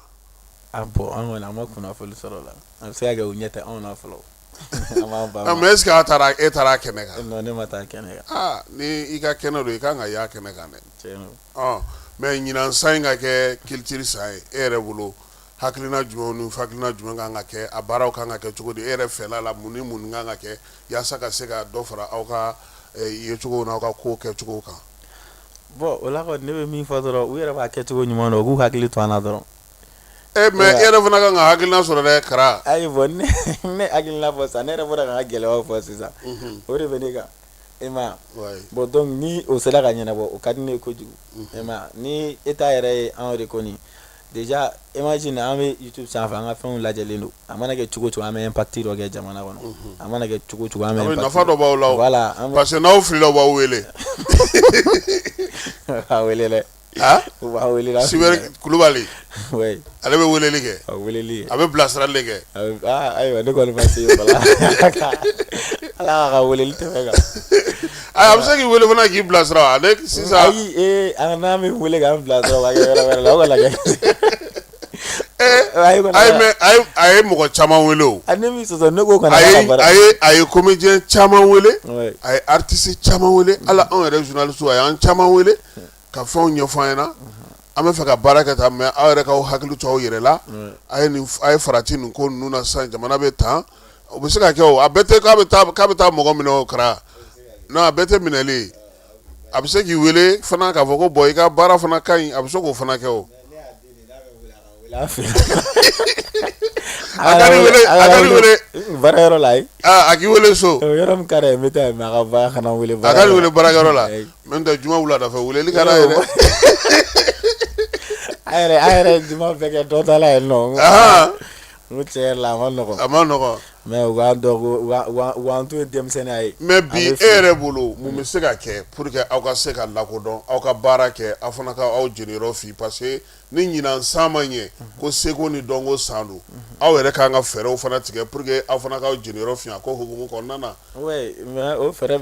bon an kɔni an ma kunnafoni sɔrɔ o la a bɛ se ka kɛ u ɲɛ tɛ anw na fɔlɔ est-ce que e taara kɛnɛ kan non ne ma taa kɛnɛ kan ni i ka kɛnɛ don i ka kan ka y'a kɛnɛ kan dɛ mais ɲinan san in ka kɛ culture san ye e yɛrɛ bolo hakilina jumɛn ni hakilina jumɛn kan ka kɛ a baaraw kan ka kɛ cogo di e yɛrɛ fɛla la mun ni mun kan ka kɛ yaasa ka se ka dɔ fara aw ka yecogo n'aw ka ko kɛcogo kan bon o la ne bɛ min fɔ dɔrɔn u yɛrɛ b'a kɛcogo ɲuman dɔn u k'u hakili to an na dɔrɔn mais e yɛrɛ fana kan ka hakilina sɔrɔ dɛ Kara ayi bon ne ne hakilina fɔ sisan ne yɛrɛ bɔra ka gɛlɛya fɔ sisan o de bɛ ne kan i ma ye bon donc ni o sera ka ɲɛnabɔ o ka di ne ye kojugu i ma ye ni État yɛrɛ ye an reconnu Déjà imagine an bɛ YouTube sanfɛ an ka fɛnw lajɛlen don a mana kɛ cogo o cogo an bɛ impact dɔ kɛ jamana kɔnɔ a mana kɛ cogo o cogo an bɛ impact nafa dɔ b'aw la o voilà an bɛ parce que n'aw filila u b'aw wele u b'a wele dɛ a u b'a wele n'a filila Sibɛri Kulubali oui ale bɛ weleli kɛ a weleli a bɛ bilasirali de kɛ a bɛ aa ayiwa ne kɔni ma se yen fɔlɔ Ala k'a ka weleli tɛmɛ kan A bɛ se k'i weele fana k'i bilasira ale sisan ayi ee a n'a min weele k'an bilasira la a ye mɔgɔ caman weele o a ne a ye comédien caman weele a ye artiste caman weele ala anw yɛrɛ journaliste a y'an caman weele ka fɛnw ɲɛfɔ an ɲɛna an bɛ fɛ ka baara kɛ tan mais aw yɛrɛ k'aw hakili to aw yɛrɛ la a ye farati nin ko ninnu na sisan jamana bɛ tan o bɛ se ka kɛ a bɛɛ tɛ k'a bɛ taa mɔgɔ minɛ o Kara non a bɛɛ tɛ minɛli ye a bɛ se k'i weele fana k'a fɔ ko bon i ka baara fana ka ɲi a bɛ se k'o fana kɛ o weele so yɔrɔ ka n bɛ taa weele baara la n'o tɛ juma wula fɛ weleli ka d'a ye a yɛrɛ juma bɛɛ kɛ dɔ la yen nɔ N ko tiɲɛ la a ma nɔgɔ a ma nɔgɔ mais u k'an dɔn to ye denmisɛnninya ye mais bi e yɛrɛ bolo mun bɛ se ka kɛ pour que aw ka se ka lakodɔn aw ka baara kɛ aw fana ka aw jeniyɔrɔ fin parce que ni ɲinan san man ye ko seko ni dɔnko san don aw yɛrɛ kan ka fɛɛrɛw fana tigɛ pour que aw fana ka aw jeniyɔrɔ fin a ko hukumu kɔnɔna na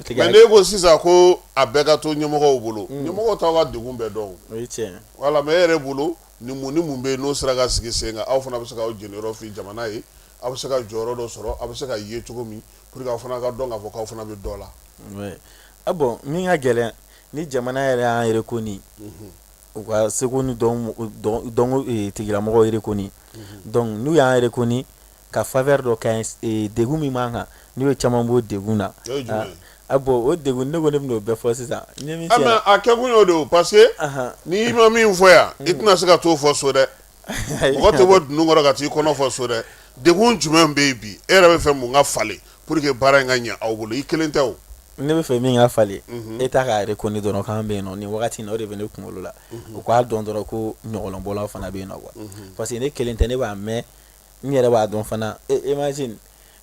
tigɛ n'e ko sisan ko a bɛɛ ka to ɲɛmɔgɔw bolo ɲɛmɔgɔw t'aw ka degun bɛɛ dɔn voilà mais e yɛrɛ bolo ni mun ni mun bɛ yen n'o sera ka sigi sen kan aw fana bɛ se ka aw jeniyɔrɔ fin jamana ye aw bɛ se ka jɔyɔrɔ dɔ sɔrɔ aw bɛ se ka ye cogo min pour que aw fana ka dɔn k'a fɔ k'aw fana bɛ dɔ la a bon min ka gɛlɛn ni jamana yɛrɛ y'an reconnu u ka seko ni dɔnko tigilamɔgɔw reconnu donc n'u y'an reconnu ka faveur dɔ kɛ degun min b'an kan n'o ye caman b'o degun na a bon o degun ne kɔni b'o bɛɛ fɔ sisan a kɛ kun y'o de o parce que n'i ma min fɔ yan i tɛna se ka t'o fɔ so dɛ mɔgɔ tɛ bɔ dunun kɔrɔ ka t'i kɔnɔ fɔ so dɛ degun jumɛn bɛ yen bi e yɛrɛ bɛ fɛ mun ka falen pour que baara in ka ɲɛ aw bolo i kelen tɛ ne bɛ fɛ min ka falen État k'an reconnaît dɔrɔn k'an bɛ yen nɔ nin wagati in na o de bɛ ne kunkolo la u k'a dɔn dɔrɔn ko ɲɔgɔlɔnbɔlaw fana bɛ yen nɔ quoi parce que ne kelen tɛ ne b'a mɛn n yɛrɛ b'a dɔn fana e, imagine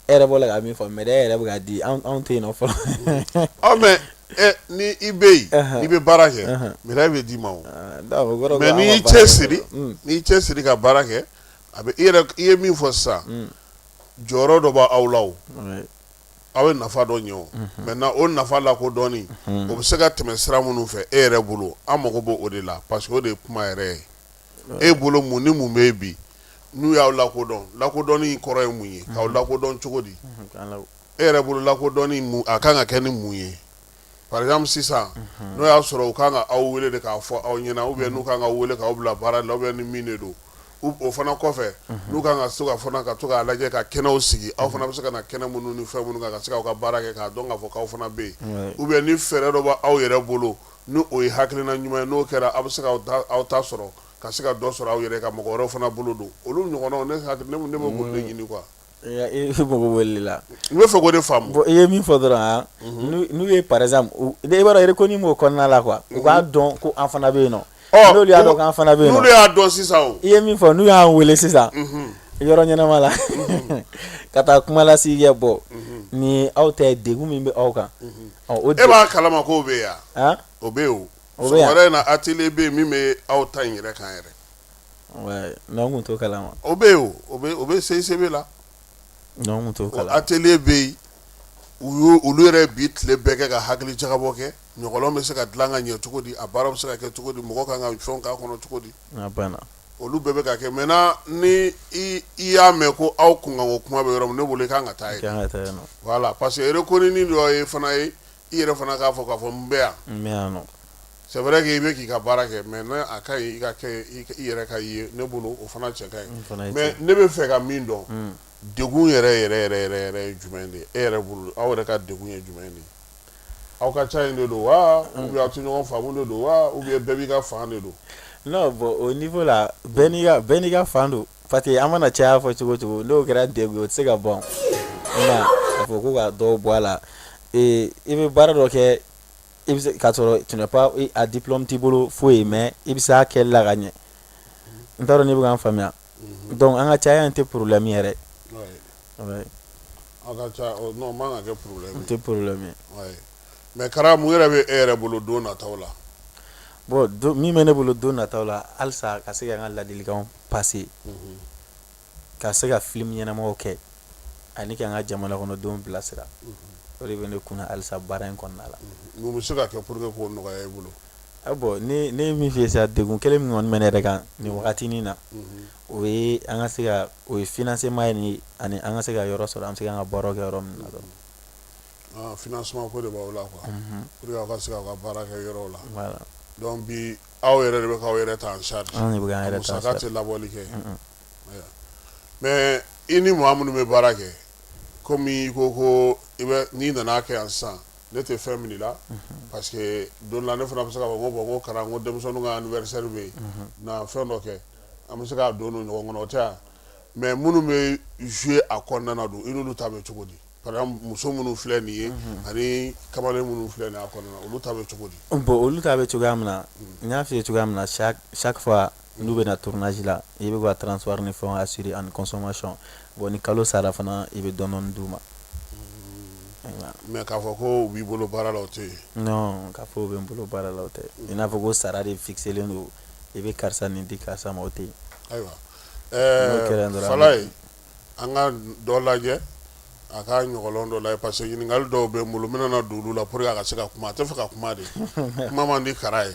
e yɛrɛ bɔla ka min fɔ médaille yɛrɛ bɛ ka di anw tɛ yen nɔ fɔlɔ aw mais ni i bɛ yen i bɛ baara kɛ médaille bɛ d'i ma o ah, mais n'i y'i cɛ siri mm. n'i cɛ siri ka baara kɛ a bɛ e i ye min fɔ sisan mm. jɔyɔrɔ dɔ b'aw la o aw ye nafa dɔ ɲɛ o mm-hmm. maintenant o nafa lakodɔnni mm-hmm. o bɛ se ka tɛmɛ sira minnu fɛ e yɛrɛ bolo an mago b'o o de la parce que o de ye kuma yɛrɛ ye e bolo mun ni mun bɛ bi n'u y'aw lakodɔn lakodɔnni kɔrɔ ye mun ye k'aw lakodɔn cogo di e yɛrɛ bolo lakodɔnni a kan ka kɛ ni mun ye par exemple sisan n'o y'a sɔrɔ u kan ka aw weele de k'a fɔ aw ɲɛna ou bien n'u kan ka weele k'aw bila baara la ou bien ni min de don o fana kɔfɛ n'u kan ka se ka ka to k'a lajɛ ka kɛnɛw sigi aw fana bɛ se ka na kɛnɛ minnu ni fɛn minnu kan ka se k'aw ka baara kɛ k'a dɔn k'a fɔ aw fana bɛ yen ou bien ni fɛɛrɛ dɔ b'aw yɛrɛ bolo n'o ye hakilina ɲuman ye n'o kɛra aw bɛ se ka aw ta sɔrɔ ka se ka dɔ sɔrɔ aw yɛrɛ ka mɔgɔ wɛrɛw fana bolo don olu ɲɔgɔnnaw ne bɛ k'o de ɲini quoi e voilà n bɛ fɛ k'o de faamu bon i ye min fɔ dɔrɔn n'u ye par exemple b'a ko b'o kɔnɔna la quoi u k'a dɔn ko an fana bɛ yen nɔ n'u y'a dɔn k'an fana bɛ yen n'u y'a dɔn sisan i ye min fɔ n'u y'an weele sisan yɔrɔ ɲɛnama la ka taa kumalasigi kɛ bon ni aw tɛ degun min bɛ aw kan e b'a kalama k'o bɛ yan o bɛ yen o lɛrɛ in na atelier bɛ yen min bɛ aw ta in yɛrɛ kan yɛrɛ n'an tun t'o kalama o bɛ yen o o bɛ CICB la n'an t'o kalama atelier bɛ yen olu yɛrɛ bi tile bɛɛ kɛ ka hakili jagabɔ kɛ ɲɔgɔlɔn bɛ se ka dilan ka ɲɛ cogo di a baara bɛ se ka kɛ cogo di mɔgɔ kan ka fɛn k'a kɔnɔ cogo di olu bɛɛ bɛ ka kɛ maintenant ni i y'a mɛn ko aw kunkanko kuma bɛ yɔrɔ min ne bolo i kan ka taa yen voilà parce que reconnaît dɔ ye fana ye i yɛrɛ fana k'a fɔ k'a fɔ n bɛ yan c'est vrai que i bɛ k'i ka baara kɛ mais ne a ka ɲi i ka kɛ i yɛrɛ ka ye ne bolo o fana cɛ ka ɲi mais ne bɛ fɛ ka min dɔn degun yɛrɛ yɛrɛ yɛrɛ ye jumɛn de ye e yɛrɛ bolo aw yɛrɛ ka degun ye jumɛn de ye aw ka ca in de don wa ou bien aw tɛ ɲɔgɔn faamu de don wa ou bien bɛɛ b'i ka fan de don non bon o niveau la bɛɛ n'i ka fan don parce que an mana caya fɔ cogo cogo n'o kɛra degun o tɛ se ka ban nka a fɔ ko ka dɔ bɔ a la i bɛ baara dɔ kɛ i bɛ k'a sɔrɔ tu n'as pas a diplôme t'i bolo foyi mais i bɛ se a kɛ la ka ɲɛ n t'a dɔn n'i bɛ k'a faamuya donc an ka caya in tɛ problème yɛrɛ mais Kara mun yɛrɛ bɛ e yɛrɛ bolo don nataw la bon min bɛ ne bolo don nataw la halisa ka se ka n ka ladilikanw passer ka se ka filimu ɲɛnamaw kɛ ani ka n ka jamana kɔnɔdenw bilasira o de bɛ ne kunna halisa baara in kɔnɔna la mun bɛ se ka kɛ pour que k'o nɔgɔya i bolo A bon ne ye min f'i ye sisan degun kelen min kɔni bɛ ne yɛrɛ kan nin waatinin na o ye an ka se ka o ye financement ye ni ani an ka se ka yɔrɔ sɔrɔ an bɛ se ka an ka baara kɛ yɔrɔ min na dɔrɔn financement ko de b'aw la quoi pour que aw ka se k'aw ka baara kɛ yɔrɔ la donc bi aw yɛrɛ de bɛ k'aw yɛrɛ ta en charge tɛ laboli kɛ mais i ni maa minnu bɛ baara kɛ kɔmi ko ko n'i nana kɛ yan sisan ne tɛ fɛn min la parce que don la ne fana bɛ se k'a fɔ ko bon ko Kara ko denmisɛnnin ka anniversaire bɛ yen na fɛn dɔ kɛ an bɛ se k'a don ɲɔgɔn kɔnɔ o tɛ yan mais minnu bɛ jouer a kɔnɔna don i n'olu ta bɛ cogo di par exemple muso minnu filɛ nin ye ani kamalen minnu filɛ nin a kɔnɔna na olu ta bɛ cogo di bon olu ta bɛ cogoya min na n y'a f'i ye cogoya min na chaque fois N'u bɛ na tournage la i b'u ka transport ni fɛnw assurer ani consommation bon ni kalo sara fana i bɛ dɔɔnin d'u ma mais k'a fɔ ko u b'i bolo baara la o tɛ yen k'a fɔ u bɛ n bolo baara la o tɛ i n'a fɔ ko sara de fixelen don i bɛ karisa nin di karisa ma o tɛ yen ayiwa Falaye an ka dɔ lajɛ a ka ɲɔgɔlɔn dɔ lajɛ parce que ɲininkali dɔw bɛ n bolo n bɛna don olu la pour que a ka se ka kuma a tɛ fɛ ka kuma dɛ kuma man di Kara ye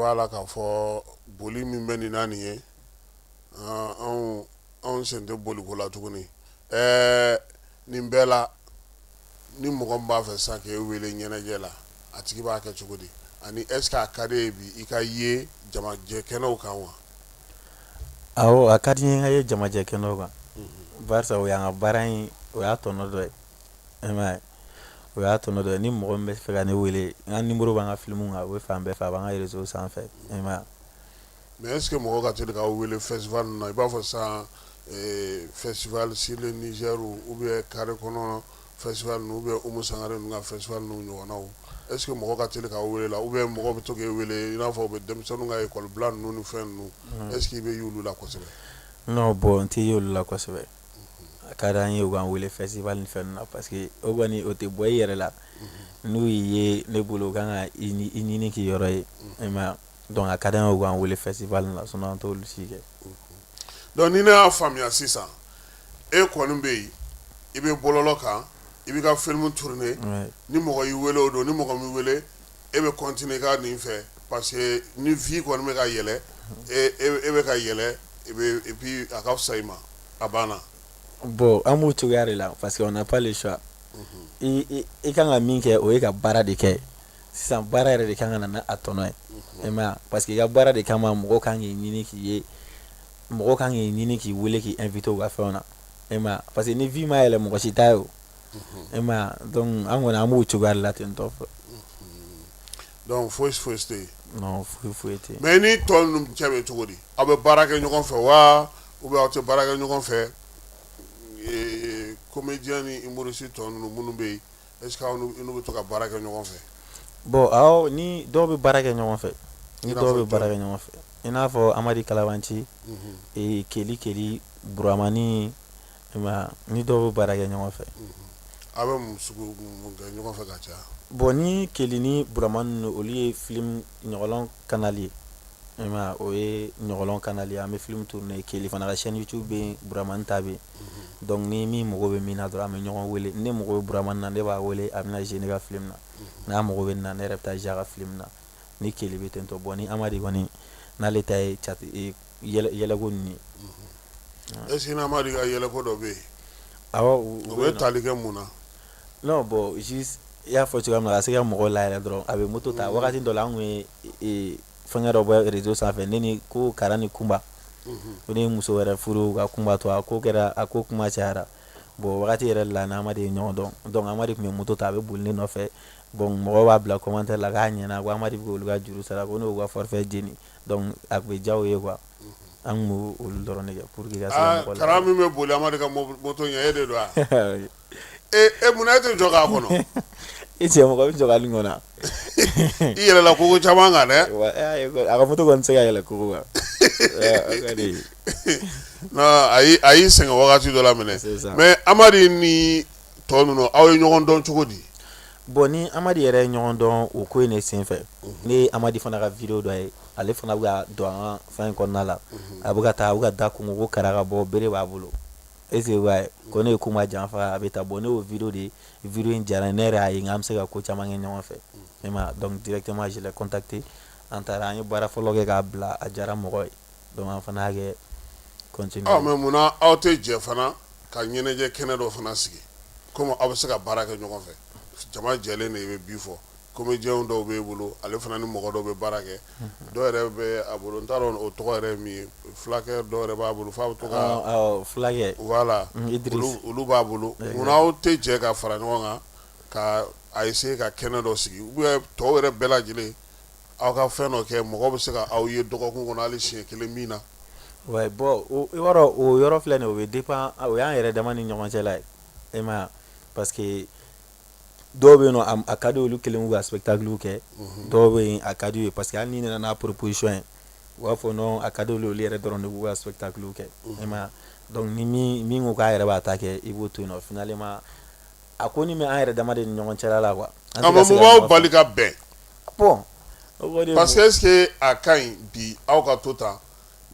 b'a la k'a fɔ boli min bɛ nin na nin ye anw anw sen tɛ boliko la tuguni ɛɛ nin bɛɛ la Ni mɔgɔ min b'a fɛ sisan k'e wele ɲɛnajɛ la a tigi b'a kɛ cogo di ani est-ce que a ka di i ye bi i ka ye jamajɛ kɛnɛw kan wa a ka di n ye n ka ye jamajɛ kɛnɛ kan barisa o y'an ka baara in o y'a tɔnɔ dɔ ye e o y'a tɔnɔ dɔ ye ni mɔgɔ min bɛ fɛ ka ne wele n ka numéro b'an ka filimu kan o bɛ fan bɛɛ fɛ a b'an ka réseau sanfɛ e Mɛ e sigi mɔgɔ ka teli ka wele fɛ na i b'a fɔ sa fɛsi seli ni u bɛ kari kɔnɔ fɛ u bɛ umu sanga ka fɛ ɲɔgɔn na e sigi mɔgɔ ka teli ka wele la u bɛ mɔgɔ bɛ to wele i n'a fɔ bɛ denmisɛnnin ka ye kɔlɔlɔbila ninnu ni fɛn ninnu e sigi bɛ y'olu la kosɛbɛ n bɔn n tɛ y'olu la kosɛbɛ a ka di an ye u ka wele fɛ ni fɛn na parce que o kɔni o tɛ bɔ i yɛrɛ la n'u ye ne bolo ka kan ka i ɲini k' yɔrɔ ye Donc a ka d'an ye u k'an weele festival la sinon an t'olu si kɛ donc ni ne y'a faamuya sisan e kɔni bɛ yen i bɛ bɔlɔlɔ kan i bɛ ka film tourner ni mɔgɔ y'i weele o don ni mɔgɔ m'i wele e bɛ continuer i ka nin fɛ parce que ni vue kɔni bɛ ka yɛlɛ e bɛ ka yɛlɛ et puis a ka fisa i ma a banna bon an b'o cogoya de la parce que on n'a pas le choix i ka kan ka min kɛ o ye ka baara de kɛ sisan baara yɛrɛ de kan ka na n'a tɔnɔ ye i m'a ye parce que i ka baara de kama mɔgɔ kan k'i ɲini k'i ye mɔgɔ kan k'i ɲini k'i wele k'i inviter u ka fɛnw na i m'a ye parce que ni vue ma yɛlɛ mɔgɔ si t'a ye o i m'a ye donc an kɔni an b'o cogoya de la ten tɔ donc fosi fosi tɛ yen non foyi foyi tɛ yen mais ni tɔ ninnu cɛ bɛ cogo di aw bɛ baara kɛ ɲɔgɔn fɛ wa ou bien aw tɛ baara kɛ ɲɔgɔn fɛ comédien ni humoriste tɔ ninnu minnu bɛ yen Est-ce que aw n'u bɛ to ka baara kɛ ɲɔgɔn fɛ bon ni dɔw bɛ baara kɛ ɲɔgɔn fɛ ni dɔw bɛ baara kɛ ɲɔgɔn fɛ i n'a fɔ amadi kalabanci ee keli keli buramani i m'a ye ni dɔw bɛ baara kɛ ɲɔgɔn fɛ aw bɛ mun kɛ ɲɔgɔn fɛ ka caya bon ni keli ni buramani olu ye film ɲɔgɔlɔn canal ye o ye ɲɔgɔlɔn canal ye an bɛ film tourner keli fana ka chaîne YouTube bɛ yen buramani ta bɛ yen donc ni min mago bɛ min na dɔrɔn an bɛ ɲɔgɔn wele ne mago bɛ buramani na ne b'a wele a bɛna jouer ne ka film na n'a mago bɛ n na ne yɛrɛ bɛ taa jouer a ka film na ni keli bɛ ten tɔ bon ni amadi kɔni n'ale ta ye yɛlɛko nin ye est-ce que amadi ka yɛlɛko dɔ bɛ yen awɔ o bɛ tali kɛ mun na non bon i y'a fɔ cogoya min na ka se ka mɔgɔw layɛlɛ dɔrɔn a bɛ moto ta wagati dɔ la an tun ye fɛngɛ dɔ bɔ réseau sanfɛ ne ni ko kara ni kunba ko ne ye muso wɛrɛ furu ka kunba to a ko kɛra a ko kuma cayara bon wagati yɛrɛ la n'amadi ye ɲɔgɔn dɔn donc amadi tun bɛ moto ta a bɛ boli ne nɔfɛ bon mɔgɔw b'a bila commentaire la k'a ɲɛna ko amadi bɛ k'olu ka juru sara ko n'u ka forfait jeni donc a tun bɛ diya u ye quoi an tun b'olu dɔrɔn ne kɛ pour que ka se ka mɔgɔ kara min bɛ boli amadi ka moto ɲɛ e de don wa E e munna e tɛ jɔ k'a kɔnɔ i cɛ mɔgɔ bɛ jɔ ka nin kɔnɔ i yɛlɛla kogo caman kan dɛ a ka moto kɔni tɛ se ka yɛlɛ kogo kan a y'i sɛgɛn wagati dɔ la minɛ mais amadi ni tɔ ninnu aw ye ɲɔgɔn dɔn cogo di bon ni amadi yɛrɛ ye ɲɔgɔn dɔn o ko in ne senfɛ ne ye amadi fana ka vidéo dɔ ye ale fana bɛ ka don an ka fɛn in kɔnɔna la a bɛ ka taa a bɛ ka da kɔnkɔn ko kara ka bɔ bere b'a bolo E ko ne ye kunba janfa a bɛ taa bon ne y'o vidéo de vidéo in diyara ne yɛrɛ ye n k'an bɛ se ka ko caman kɛ ɲɔgɔn fɛ i m'a ye donc directement je l'ai contacté an taara an ye baara fɔlɔ kɛ k'a bila a diyara mɔgɔw ye donc an fana y'a kɛ continuer mais munna aw tɛ jɛ fana ka ɲɛnajɛ kɛnɛ dɔ fana sigi kɔmi aw bɛ se ka baara kɛ ɲɔgɔn fɛ jama jɛlen de bɛ bi fɔ comédiens dɔw b'e bolo ale fana ni mɔgɔ dɔw bɛ baara kɛ, unhun, dɔw yɛrɛ bɛ a bolo n t'a dɔn o tɔgɔ yɛrɛ ye min ye fulakɛ dɔw yɛrɛ b'a bolo f'a bɛ to ka, ɔ ɔ fulakɛ, voilà Idiriss, olu b'a bolo munna aw tɛ jɛ ka fara ɲɔgɔn kan ka a essayer ka kɛnɛ dɔ sigi ou bien tɔw yɛrɛ bɛɛ lajɛlen aw ka fɛn dɔ kɛ mɔgɔ bɛ se ka aw ye dɔgɔkun kɔnɔ hali siɲɛ kelen min na, ouais, bon o i b'a dɔn o yɔrɔ filɛ nin ye o bɛ dépend o y'an yɛrɛ dama ni ɲɔgɔn cɛla ye i m'a ye wa parce que dɔw bɛ yen nɔ a ka di olu kelen k'u ka spectacle kɛ dɔw bɛ yen a ka di u ye parce que hali n'i nana n'a proposition ye u b'a fɔ non a ka di olu yɛrɛ dɔrɔn de k'u ka spectacle kɛ i m'a ye donc ni min ko k'a yɛrɛ b'a ta kɛ i b'o to yen nɔ finalement a ko ni bɛ an yɛrɛ dama de ni ɲɔgɔn cɛla la quoi an tɛ ka se ka ɲɔgɔn faamu. Mun b'aw bali ka bɛn? bon o kɔni parce que est ce que a ka ɲi bi aw ka to tan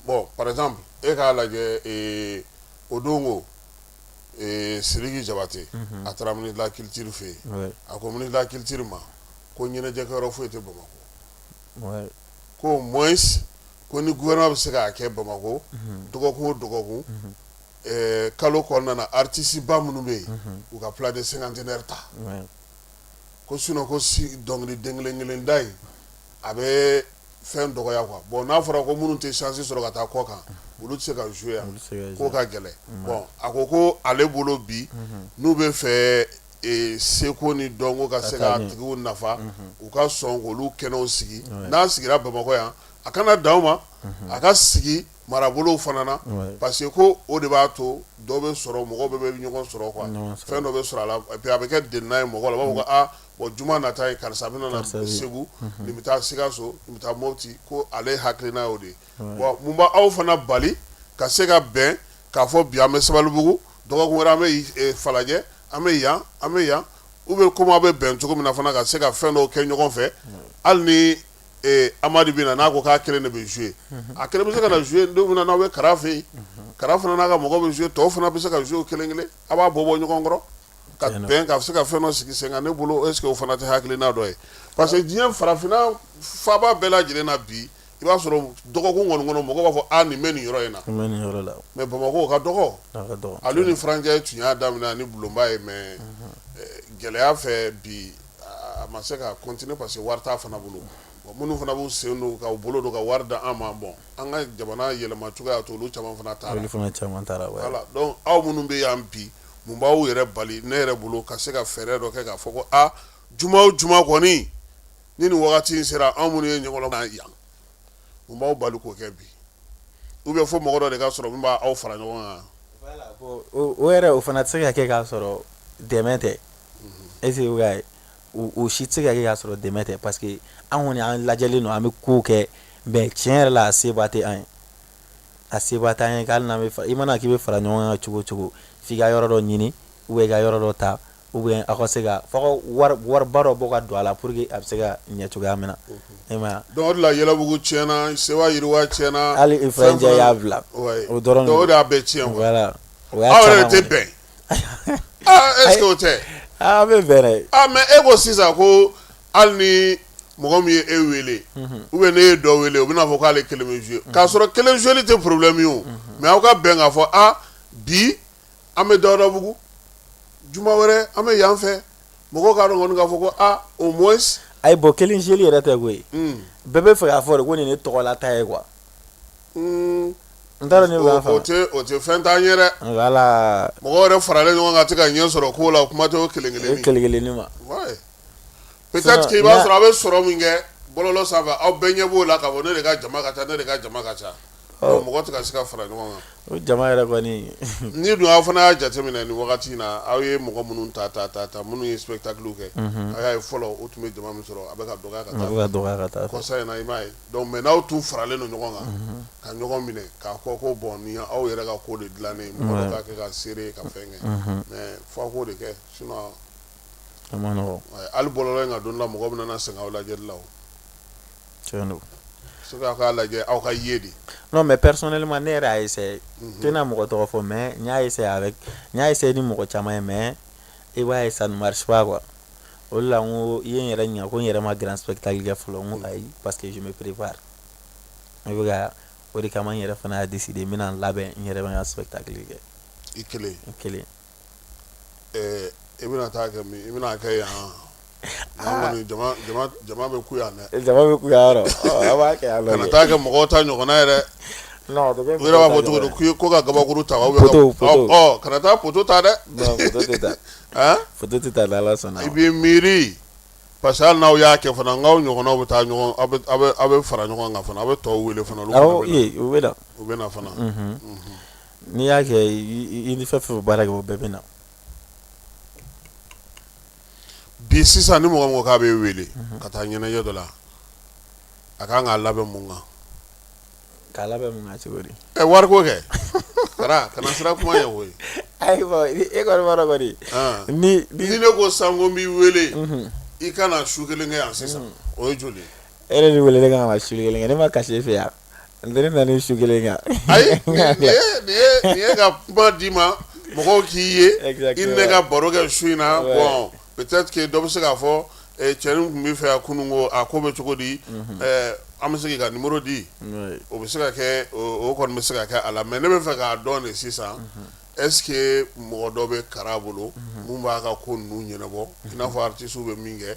bon par exemple e k'a lajɛ ee o don ko siriki jabate a taara la kitiri fɛ yen a ko la kitiri ma ko ɲɛnajɛkɛ foyi tɛ bamakɔ ko mɔ ko ni gna bɛ se ka kɛ bamakɔ dɔgɔkun dɔgɔkun kalo kɔnɔna ritisiba minnu bɛ yen u ka pla de sengant ta ko sun ko si dɔnkili den kelen kelen da ye a bɛ fɛn dɔgɔya quoi bon n'a fɔra ko minnu tɛ chance sɔrɔ ka taa kɔkan olu tɛ se ka jouer yan k'o ka gɛlɛn bon a ko ko ale bolo bi n'u bɛ fɛ seko ni dɔnko ka se k'a tigiw nafa u ka sɔn k'olu kɛnɛw sigi n'a sigira Bamakɔ yan a kana dan o ma a ka sigi marabolow fana na parce que ko o de b'a to dɔ bɛ sɔrɔ mɔgɔw bɛɛ bɛ ɲɔgɔn sɔrɔ quoi fɛn dɔ bɛ sɔrɔ a la et puis a bɛ kɛ delina ye mɔgɔw la u b'a fɔ ko aa bon juma nata ye karisa a bɛna na segu nin bɛ taa sikaso nin bɛ taa moti ko ale hakilina y'o de ye bon mun b'aw fana bali ka se ka bɛn k'a fɔ bi an bɛ sabalibugu dɔgɔkun wɛrɛ an bɛ falajɛ an bɛ yan an bɛ yan ou bien ko bɛ bɛn cogo min na fana ka se ka fɛn dɔw kɛ ɲɔgɔn fɛ hali ni amadu bɛ na n'a ko k'a kelen de bɛ jouer a kelen bɛ se ka na jouer don min na n'aw bɛ kara fɛ yen kara fana n'a ka mɔgɔ bɛ jouer tɔw fana bɛ se ka jouer kelen kelen a b'a bɔ bɔ ɲɔgɔn kɔrɔ Ka bɛn ka se ka fɛn dɔ sigi sen kan ne bolo est ce que o fana tɛ hakilina dɔ ye parce que diɲɛ farafinna faaba bɛɛ lajɛlen na bi i b'a sɔrɔ dɔgɔkun kɔni kɔnɔ mɔgɔ b'a fɔ nin bɛ nin yɔrɔ in na mais bamakɔ o ka dɔgɔ Alioune Ifra Ndiaye tun y'a daminɛ ni bulonba ye mais gɛlɛya fɛ bi a ma se ka continuer parce que wari t'a fana bolo minnu fana b'u sen don ka bolo don ka wari da an ma bon an ka jamana yɛlɛma cogoya y'a to olu caman fana taa fana caman taara aw minnu bɛ yan bi mun b'aw yɛrɛ bali ne yɛrɛ bolo ka se ka fɛɛrɛ dɔ kɛ k'a fɔ ko aa juma o juma kɔni ni nin wagati in sera anw minnu ye ɲɔgɔn na yan mun b'aw bali k'o kɛ bi ou bien fo mɔgɔ dɔ de ka sɔrɔ min b'aw fara ɲɔgɔn kan voilà bon o o yɛrɛ o fana tɛ se ka kɛ k'a sɔrɔ dɛmɛ tɛ est ce que o y'a ye o o si tɛ se ka kɛ k'a sɔrɔ dɛmɛ tɛ parce que an kɔni an lajɛlen don an bɛ kow kɛ mais tiɲɛ yɛrɛ la a seba tɛ an ye a seba t'an ye hali n'an bɛ i mana k'i bɛ fara ɲɔgɔn kan cogo o cogo f'i ka yɔrɔ dɔ ɲini ou bien ka yɔrɔ dɔ ta ou bien aw ka se ka fɔ wariba dɔ bɔ ka don a la pour que a bɛ se ka ɲɛ cogoya min na e donc o la yɛlɛbugu tiɲɛna se yiriwa tiɲɛna hali i fɛn cɛ y'a bila o dɔrɔn y'a bɛɛ tiɲɛ aw yɛrɛ tɛ bɛn tɛ bɛ mais e ko sisan ko hali ni mɔgɔ min ye e wele ou bien ne ye dɔ wele o bɛna a fɔ k'ale kelen bɛ jouer k'a sɔrɔ kelen jouerli tɛ problème ye o mais aw ka bɛn k'a fɔ a bi an bɛ dawudabugu juma wɛrɛ an bɛ yan fɛ mɔgɔw k'a dɔn k'a fɔ ko au moins ayi bon kelen jouerli yɛrɛ tɛ koyi bɛɛ b'a fɛ k'a fɔ de ko nin ye ne tɔgɔla ta ye quoi n t'a dɔn ne o tɛ fɛn t'an ye dɛ mɔgɔ yɛrɛ faralen ɲɔgɔn kan tɛ ka ɲɛ sɔrɔ ko la o kuma tɛ kelen kelen kelen kelen ma Peut être que i b'a sɔrɔ a bɛ sɔrɔ min kɛ bɔlɔlɔ sanfɛ aw bɛɛ ɲɛ b'o la k'a fɔ ne de ka jama ka ca ne de ka jama ka ca donc mɔgɔ tɛ ka se ka fara ɲɔgɔn kan, o jama yɛrɛ kɔni, ni dun aw fana y'a jateminɛ nin wagati in na aw ye mɔgɔ minnu ta ta ta minnu ye spectacle kɛ, unhun, a y'a ye fɔlɔ u tun bɛ jama min sɔrɔ a bɛ ka dɔgɔya ka taa, a bɛ ka dɔgɔya ka taa, kɔsa in na i m'a ye donc mais n'aw tun faralen don ɲɔgɔn kan, unhun, ka ɲɔgɔn minɛ k'a fɔ ko bon nin ye aw yɛrɛ ka ko de dilannen ye, mɔgɔ bɛɛ ka kɛ ka seere ka fɛn kɛ, unhun, mais fo a k'o de kɛ sinon Ali bɔra in ka don la mɔgɔ bɛna nana sɛgɛn lajɛ la k'a lajɛ aw ka ye de n'o mɛ pɛs ne ma ne yɛrɛ ye tɛna mɔgɔ tɔgɔ fɔ mɛ n y'a y'a ye ni mɔgɔ caman ye mɛ i b'a ye sa kuwa o la ko i ye yɛrɛ ɲɛ ko n yɛrɛ ma g sɛbɛnli kɛ fɔlɔ ayi pa que z perep ne bɛ o de kama n yɛrɛ fana' dise de n bɛna labɛn n yɛrɛ' sɛbɛn kelen kɛ i kelen kelen Ɛɛ i bɛna taa kɛ min i bɛna kɛ yan ah. jama bɛ ku yan dɛ jama bɛ ku yan b'a kɛ yan kana taa kɛ mɔgɔw ta ɲɔgɔnna u yɛrɛ b'a fɔ cogo di ko ka kabakuru ta kana taa poto ta dɛ poto tɛ ta n'ala sɔnna i b'i miiri parce que hali n'aw y'a kɛ fana n'aw ɲɔgɔn aw bɛ taa aw bɛ fara ɲɔgɔn kan fana aw bɛ tɔw wele fana u bɛ u bɛ na fana n'i y'a kɛ i ni fɛn fɛn bɛ baara kɛ o bɛɛ bɛ na bi sisan ni mɔgɔ mɔgɔ k'a b'i wele mhm. ka taa ɲɛnajɛ dɔ la a ka kan k'a labɛn mun kan k'a labɛn mun kan cogo di ɛ wari ko kɛ kana kana siran kuma ɲɛ koyi ayiwa e kɔni b'a dɔn kɔni ah. ni ni ne ko sa ko n b'i wele mhm. i ka na su kelen kɛ yan sisan mhm. o ye joli e yɛrɛ de wele ne kan ka su kelen kɛ ne ma ka si e fɛ yan N tɛ ne na ni su kelen kan ayi nin ye ka kuma d'i ma mɔgɔw k'i ye i ni ne ka baro kɛ su in na bon peut-être que dɔ bɛ se k'a fɔ cɛnin tun b'i fɛ yan kunun ko a ko bɛ cogo di an bɛ se k'i ka numéro di o bɛ se ka kɛ o kɔni bɛ se ka kɛ a la mais ne bɛ fɛ k'a dɔn de sisan est-ce que mɔgɔ dɔ bɛ Kara bolo min b'a ka ko ninnu ɲɛnabɔ i n'a fɔ aritisiw bɛ min kɛ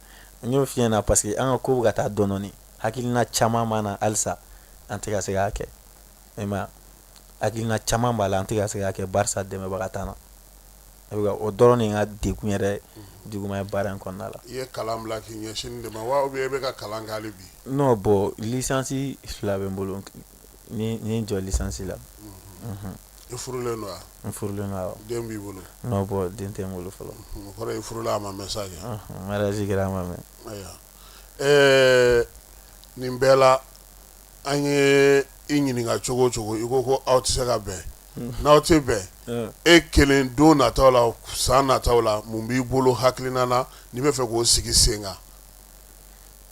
n y'o f'i ɲɛ na parce que an ka ko bɛ ka taa dɔɔni hakilina caman b'an na halisa an tɛ ka se k'a kɛ e ma hakilina caman b'a la an tɛ ka se k'a kɛ barisa dɛmɛbaga t'an na o dɔrɔn de ye n ka degun yɛrɛ juguman ye baara in kɔnɔna la. i ye kalan bila k'i ɲɛsin nin de ma wa ou bien i bɛ ka kalan kɛ hali bi. non bon licence fila bɛ n bolo. n ye n jɔ licence la i furulen don wa n furulen don awɔ den b'i bolo non bon den tɛ n bolo fɔlɔ o kɔrɔ ye i furula a ma mɛn sa kɛ Ɔnhɔn, mariage kɛra a ma mɛn ayiwa ɛɛ nin bɛɛ la an ye i ɲininka cogo o cogo i ko ko aw tɛ se ka bɛn n'aw tɛ bɛn Ɔn. e kelen don nataw la san nataw la mun b'i bolo hakilina na n'i bɛ fɛ k'o sigi sen kan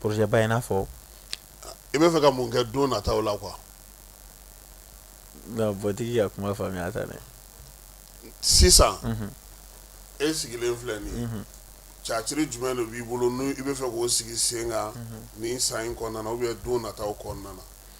projet ba i n'a fɔ i b'a fɛ ka mun kɛ don nataw la quoi bɔtigi ka kuma faamuya ta dɛ sisan e sigilen filɛ nin catiri jumɛn de b'i bolo n'i bɛ fɛ k'o sigi sen kan nin san in kɔnɔna na ou bien don nataw kɔnɔna na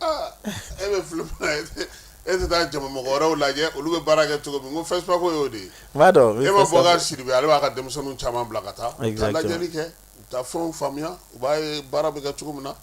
E bɛ film la e tɛ taa jama mɔgɔ wɛrɛw lajɛ olu bɛ baara kɛ cogo min ko FESPACO y'o de ye n b'a dɔn e ma bɔ Sidibe ale b'a ka denmisɛnninw caman bila ka taa lajɛli kɛ taa fɛn faamuya u b'a ye baara bɛ kɛ cogo min na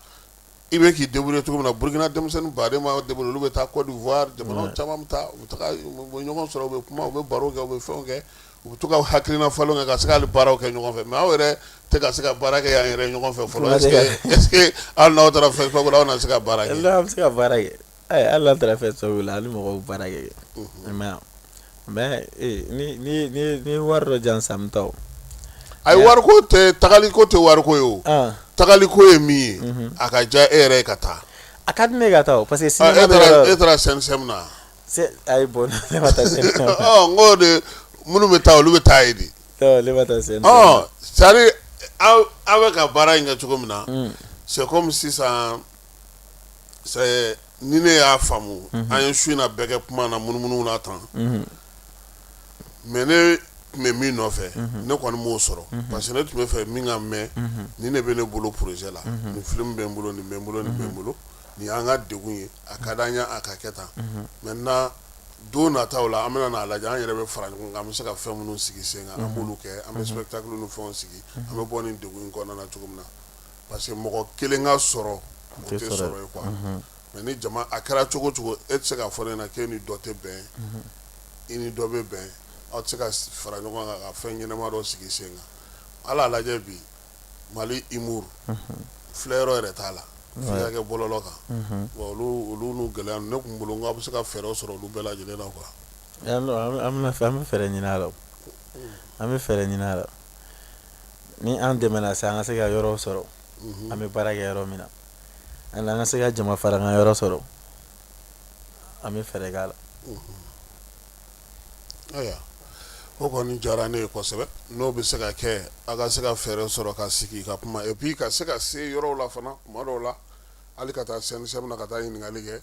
i bɛ k'i débrouiller cogo min na Burkina denmisɛnnin ba de bolo olu bɛ taa Côte d'Ivoire jamana caman bɛ taa u bɛ ɲɔgɔn sɔrɔ u bɛ kuma u bɛ baro kɛ u bɛ fɛnw kɛ U bɛ to ka hakilina falenw kɛ ka se ka hali baaraw kɛ ɲɔgɔn fɛ mais aw yɛrɛ tɛ ka se ka baara kɛ yan yɛrɛ ɲɔgɔn fɛ fɔlɔ est-ce que hali n'aw taara FESPACO la aw na se ka baara an bɛ se ka baara kɛ hali n'an taara FESPACO la ni mɔgɔw baara kɛ mais ni wari dɔ jan sa an bɛ taa ayi wari ko tɛ tagali ko tɛ wari ko ye o tagali ko ye min ye a ka diya e yɛrɛ ye ka taa a ka di ne ka taa parce que e e taara sɛ na Ayi bon ne ma taa n ko de minnu bɛ taa olu bɛ taa ye de ne ma taa c'est à dire aw bɛ ka baara in kɛ cogo min na c'est comme sisan ni ne y'a faamu an ye su in na bɛɛ kɛ kuma na munumunu na tan mais ne tun bɛ min nɔfɛ ne kɔni m'o sɔrɔ parce que ne tun bɛ fɛ min ka mɛn ni ne bɛ ne bolo projet la ni film bɛ n bolo nin bɛ n bolo nin bɛ n bolo nin y'an ka degun ye a ka di an ye a ka kɛ tan maintenant don nataw la an bɛna n'a lajɛ an yɛrɛ bɛ fara ɲɔgɔn kan an bɛ se ka fɛn minnu sigi sen kan an b'olu kɛ an bɛ spectacle ni fɛnw sigi an bɛ bɔ nin degun in kɔnɔna na cogo min na parce que mɔgɔ kelen ka sɔrɔ o tɛ sɔrɔ ye quoi mais ni jama a kɛra cogo cogo e tɛ se ka fɔ ne ɲɛna k'e ni dɔ tɛ bɛn i ni dɔ bɛ bɛn aw tɛ se ka fara ɲɔgɔn kan ka fɛn ɲɛnama dɔ sigi sen kan a lajɛ bi mali humour filɛ yɔrɔ yɛrɛ t'a la f'i k'a kɛ bɔlɔlɔ kan olu n'u gɛlɛya ne kun bolo n ko a bɛ se ka fɛɛrɛ sɔrɔ olu bɛɛ lajɛlen la quoi an bɛ fɛ an bɛ fɛɛrɛ ɲini a la an bɛ fɛɛrɛ ɲini a la ni an dɛmɛna sa an ka se ka yɔrɔ sɔrɔ an bɛ baara kɛ yɔrɔ min na an an ka se ka jama fara an ka yɔrɔ sɔrɔ an bɛ fɛɛrɛ k'a la o kɔni diyara ne ye kosɛbɛ n'o bɛ se ka kɛ a ka se ka fɛɛrɛ sɔrɔ ka sigi ka kuma et puis ka se ka se yɔrɔw la fana tuma dɔw la hali ka taa CNSM na ka taa ɲininkali kɛ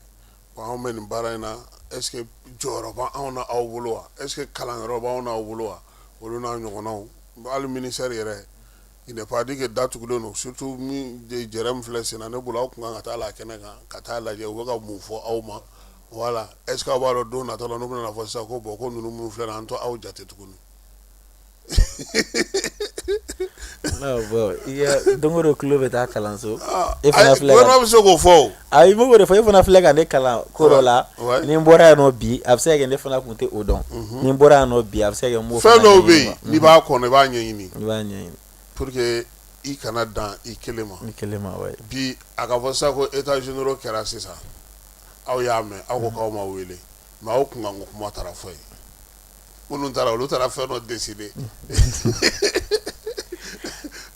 anw bɛ nin baara in na est-ce que jɔyɔrɔ b'anw na aw bolo wa est-ce que kalanyɔrɔ b'anw n'aw bolo wa olu n'a ɲɔgɔnnaw hali ministère yɛrɛ Il n'est pas dit que da tugulen don surtout min yɛrɛ min filɛ sen na ne bolo aw kun kan ka taa la kɛnɛ kan ka taa lajɛ u bɛ ka mun fɔ aw ma voilà est-ce que aw b'a dɔn don nata la n'u bɛna fɔ sisan ko bon ko ninnu minnu filɛ nin an t'aw jate tuguni don o don tulo bɛ taa kalanso e bɛ se k'o fɔ Ayi i m'o de fɔ e fana filɛ ka ne kalan ko dɔ la ni n bɔra yan nɔ bi a bɛ se ka kɛ ne fana kun tɛ o dɔn ni n bɔra yan nɔ bi a bɛ se ka kɛ fɛn dɔw bɛ yen n'i b'a kɔnɔ i b'a ɲɛɲini i b'a ɲɛɲini pour que i kana dan i kelen ma ouais bi a ka fɔ sa ko états généraux kɛra sisan aw y'a mɛn aw ko k'aw ma wele mais aw kun kan k'o kuma taara fɔ yen minnu taara olu taara fɛn dɔ décider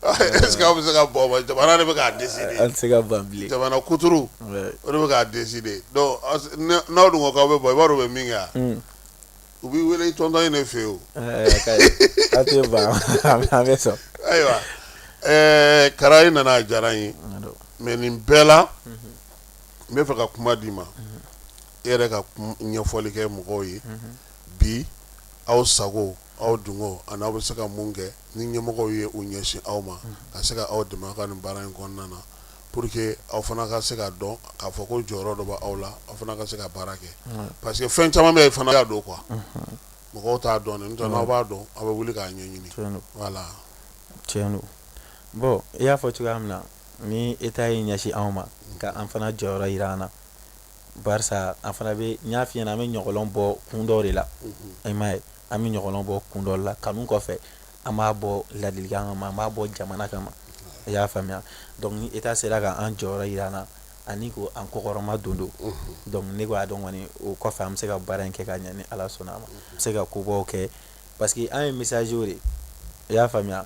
est-ce que aw bɛ se ka bɔ ma jamana de bɛ k'a décider an tɛ se ka ban bilen jamana culture Ouais. o de bɛ k'a décider donc aw se- n'a- n'aw dun ko k'aw bɛ bɔ i b'a dɔn u bɛ min kɛ wa? Mm. u b'i wele i tɔntɔn ye ne fɛ yen o Eh, ka ɲi. an tɛ ban an bɛ- an bɛ sɔn ayiwa ɛɛ Kara i nana a diyara n ye N y'a dɔn. mais nin bɛɛ la n bɛ fɛ ka kuma d'i ma e yɛrɛ ka ɲɛfɔli kɛ mɔgɔw ye bi aw sago aw dungo ani aw bɛ se ka mun kɛ ni ɲɛmɔgɔw ye u ɲɛsin aw ma ka se ka aw dɛmɛ aw ka nin baara in kɔnɔna na pour que aw fana ka se ka dɔn k'a fɔ ko jɔyɔrɔ dɔ b' aw la aw fana ka se ka baara kɛ parce que fɛn caman bɛ yen fana y'a dɔn quoi mɔgɔw t'a dɔn n'aw b'a dɔn aw bɛ wuli k'a ɲɛɲini tiɲɛ don bon i y'a fɔ cogoya min na ni état y'i ɲɛsin anw ma k'an fana jɔyɔrɔ jira an na barisa an fana bɛ n y'a f'i ɲɛna an bɛ ɲɔgɔlɔn bɔ kun dɔ de la i m'a ye an bɛ ɲɔgɔlɔn bɔ kun dɔ la kanu kɔfɛ an b'a bɔ ladilikan kama an b'a bɔ jamana kama i y'a faamuya donc ni état sera ka an jɔyɔrɔ jira an na ani ko an kɔkɔrɔma don donc ne b'a dɔn kɔni o kɔfɛ an bɛ se ka baara in kɛ ka ɲɛ ni Ala sɔnna a ma an bɛ se ka kobaw kɛ parce que an ye message de i y'a faamuya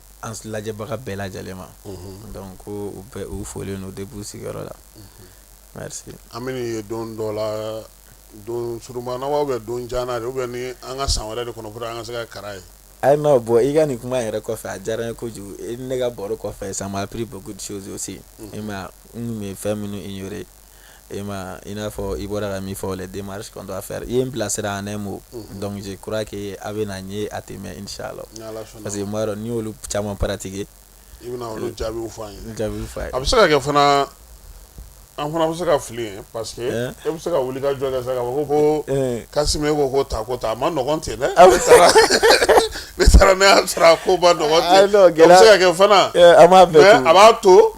an lajɛbaga bɛɛ lajɛlen ma donc ko u bɛɛ u folen don depuis u sigiyɔrɔ la merci an bɛ nin ye don dɔ la don surumana wa ou bien don jan de ou bien ni an ka san wɛrɛ de kɔnɔ pour que an ka se ka kara ye ayi non bon i ka nin kuma yɛrɛ kɔfɛ a diyara n ye kojugu ne ka baro kɔfɛ ça m'a appris beaucoup de choses aussi e ma n tun bɛ fɛn minnu ignorer E ma i n'a fɔ i bɔra ka min fɔ les démarches qu'on doit faire i ye n bilasira en un mot donc je crois que a bɛ na n ye a tɛ mɛn inchallah parce que n b'a dɔn n'i y'olu caman pratiquer i bɛ jaabi fɔ an ye jaabi fɔ an ye a bɛ se ka kɛ fana an fana bɛ se ka fili ye parce que e bɛ se ka wuli ka jɔ sa ko ko Kasimi ko ko ta ko taa a man nɔgɔn ten dɛ ne taara ne y'a sɔrɔ a ko man nɔgɔn ten a bɛ se ka kɛ fana mais a b'a to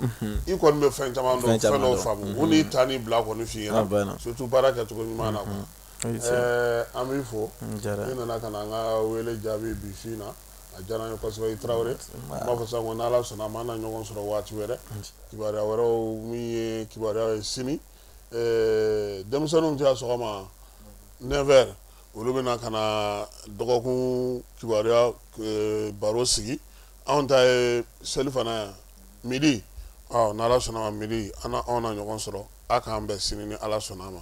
i kɔni bɛ fɛn caman dɔn fɛn dɔw faamu u n'i taa n'i bila kɔni f'i ɲɛna surtout baara kɛcogo ɲuman na quoi ɛɛ an b'i fo i nana ka na an ka wele jaabi bi su in na a diyara n ye kosɛbɛ i tarawele n b'a fɔ sisan ko n'ala sɔnna a ma an na ɲɔgɔn sɔrɔ waati wɛrɛ kibaruya wɛrɛw min ye kibaruya ye sini ɛɛ denmisɛnninw ta ye sɔgɔma 9 heures olu bɛna ka na dɔgɔkun kibaruya eh, baro sigi anw ta ye selifana yan midi ɔ ni ala sɔnna a ma midi an na anw na ɲɔgɔn sɔrɔ a k'an bɛn sini ni ala sɔnna a ma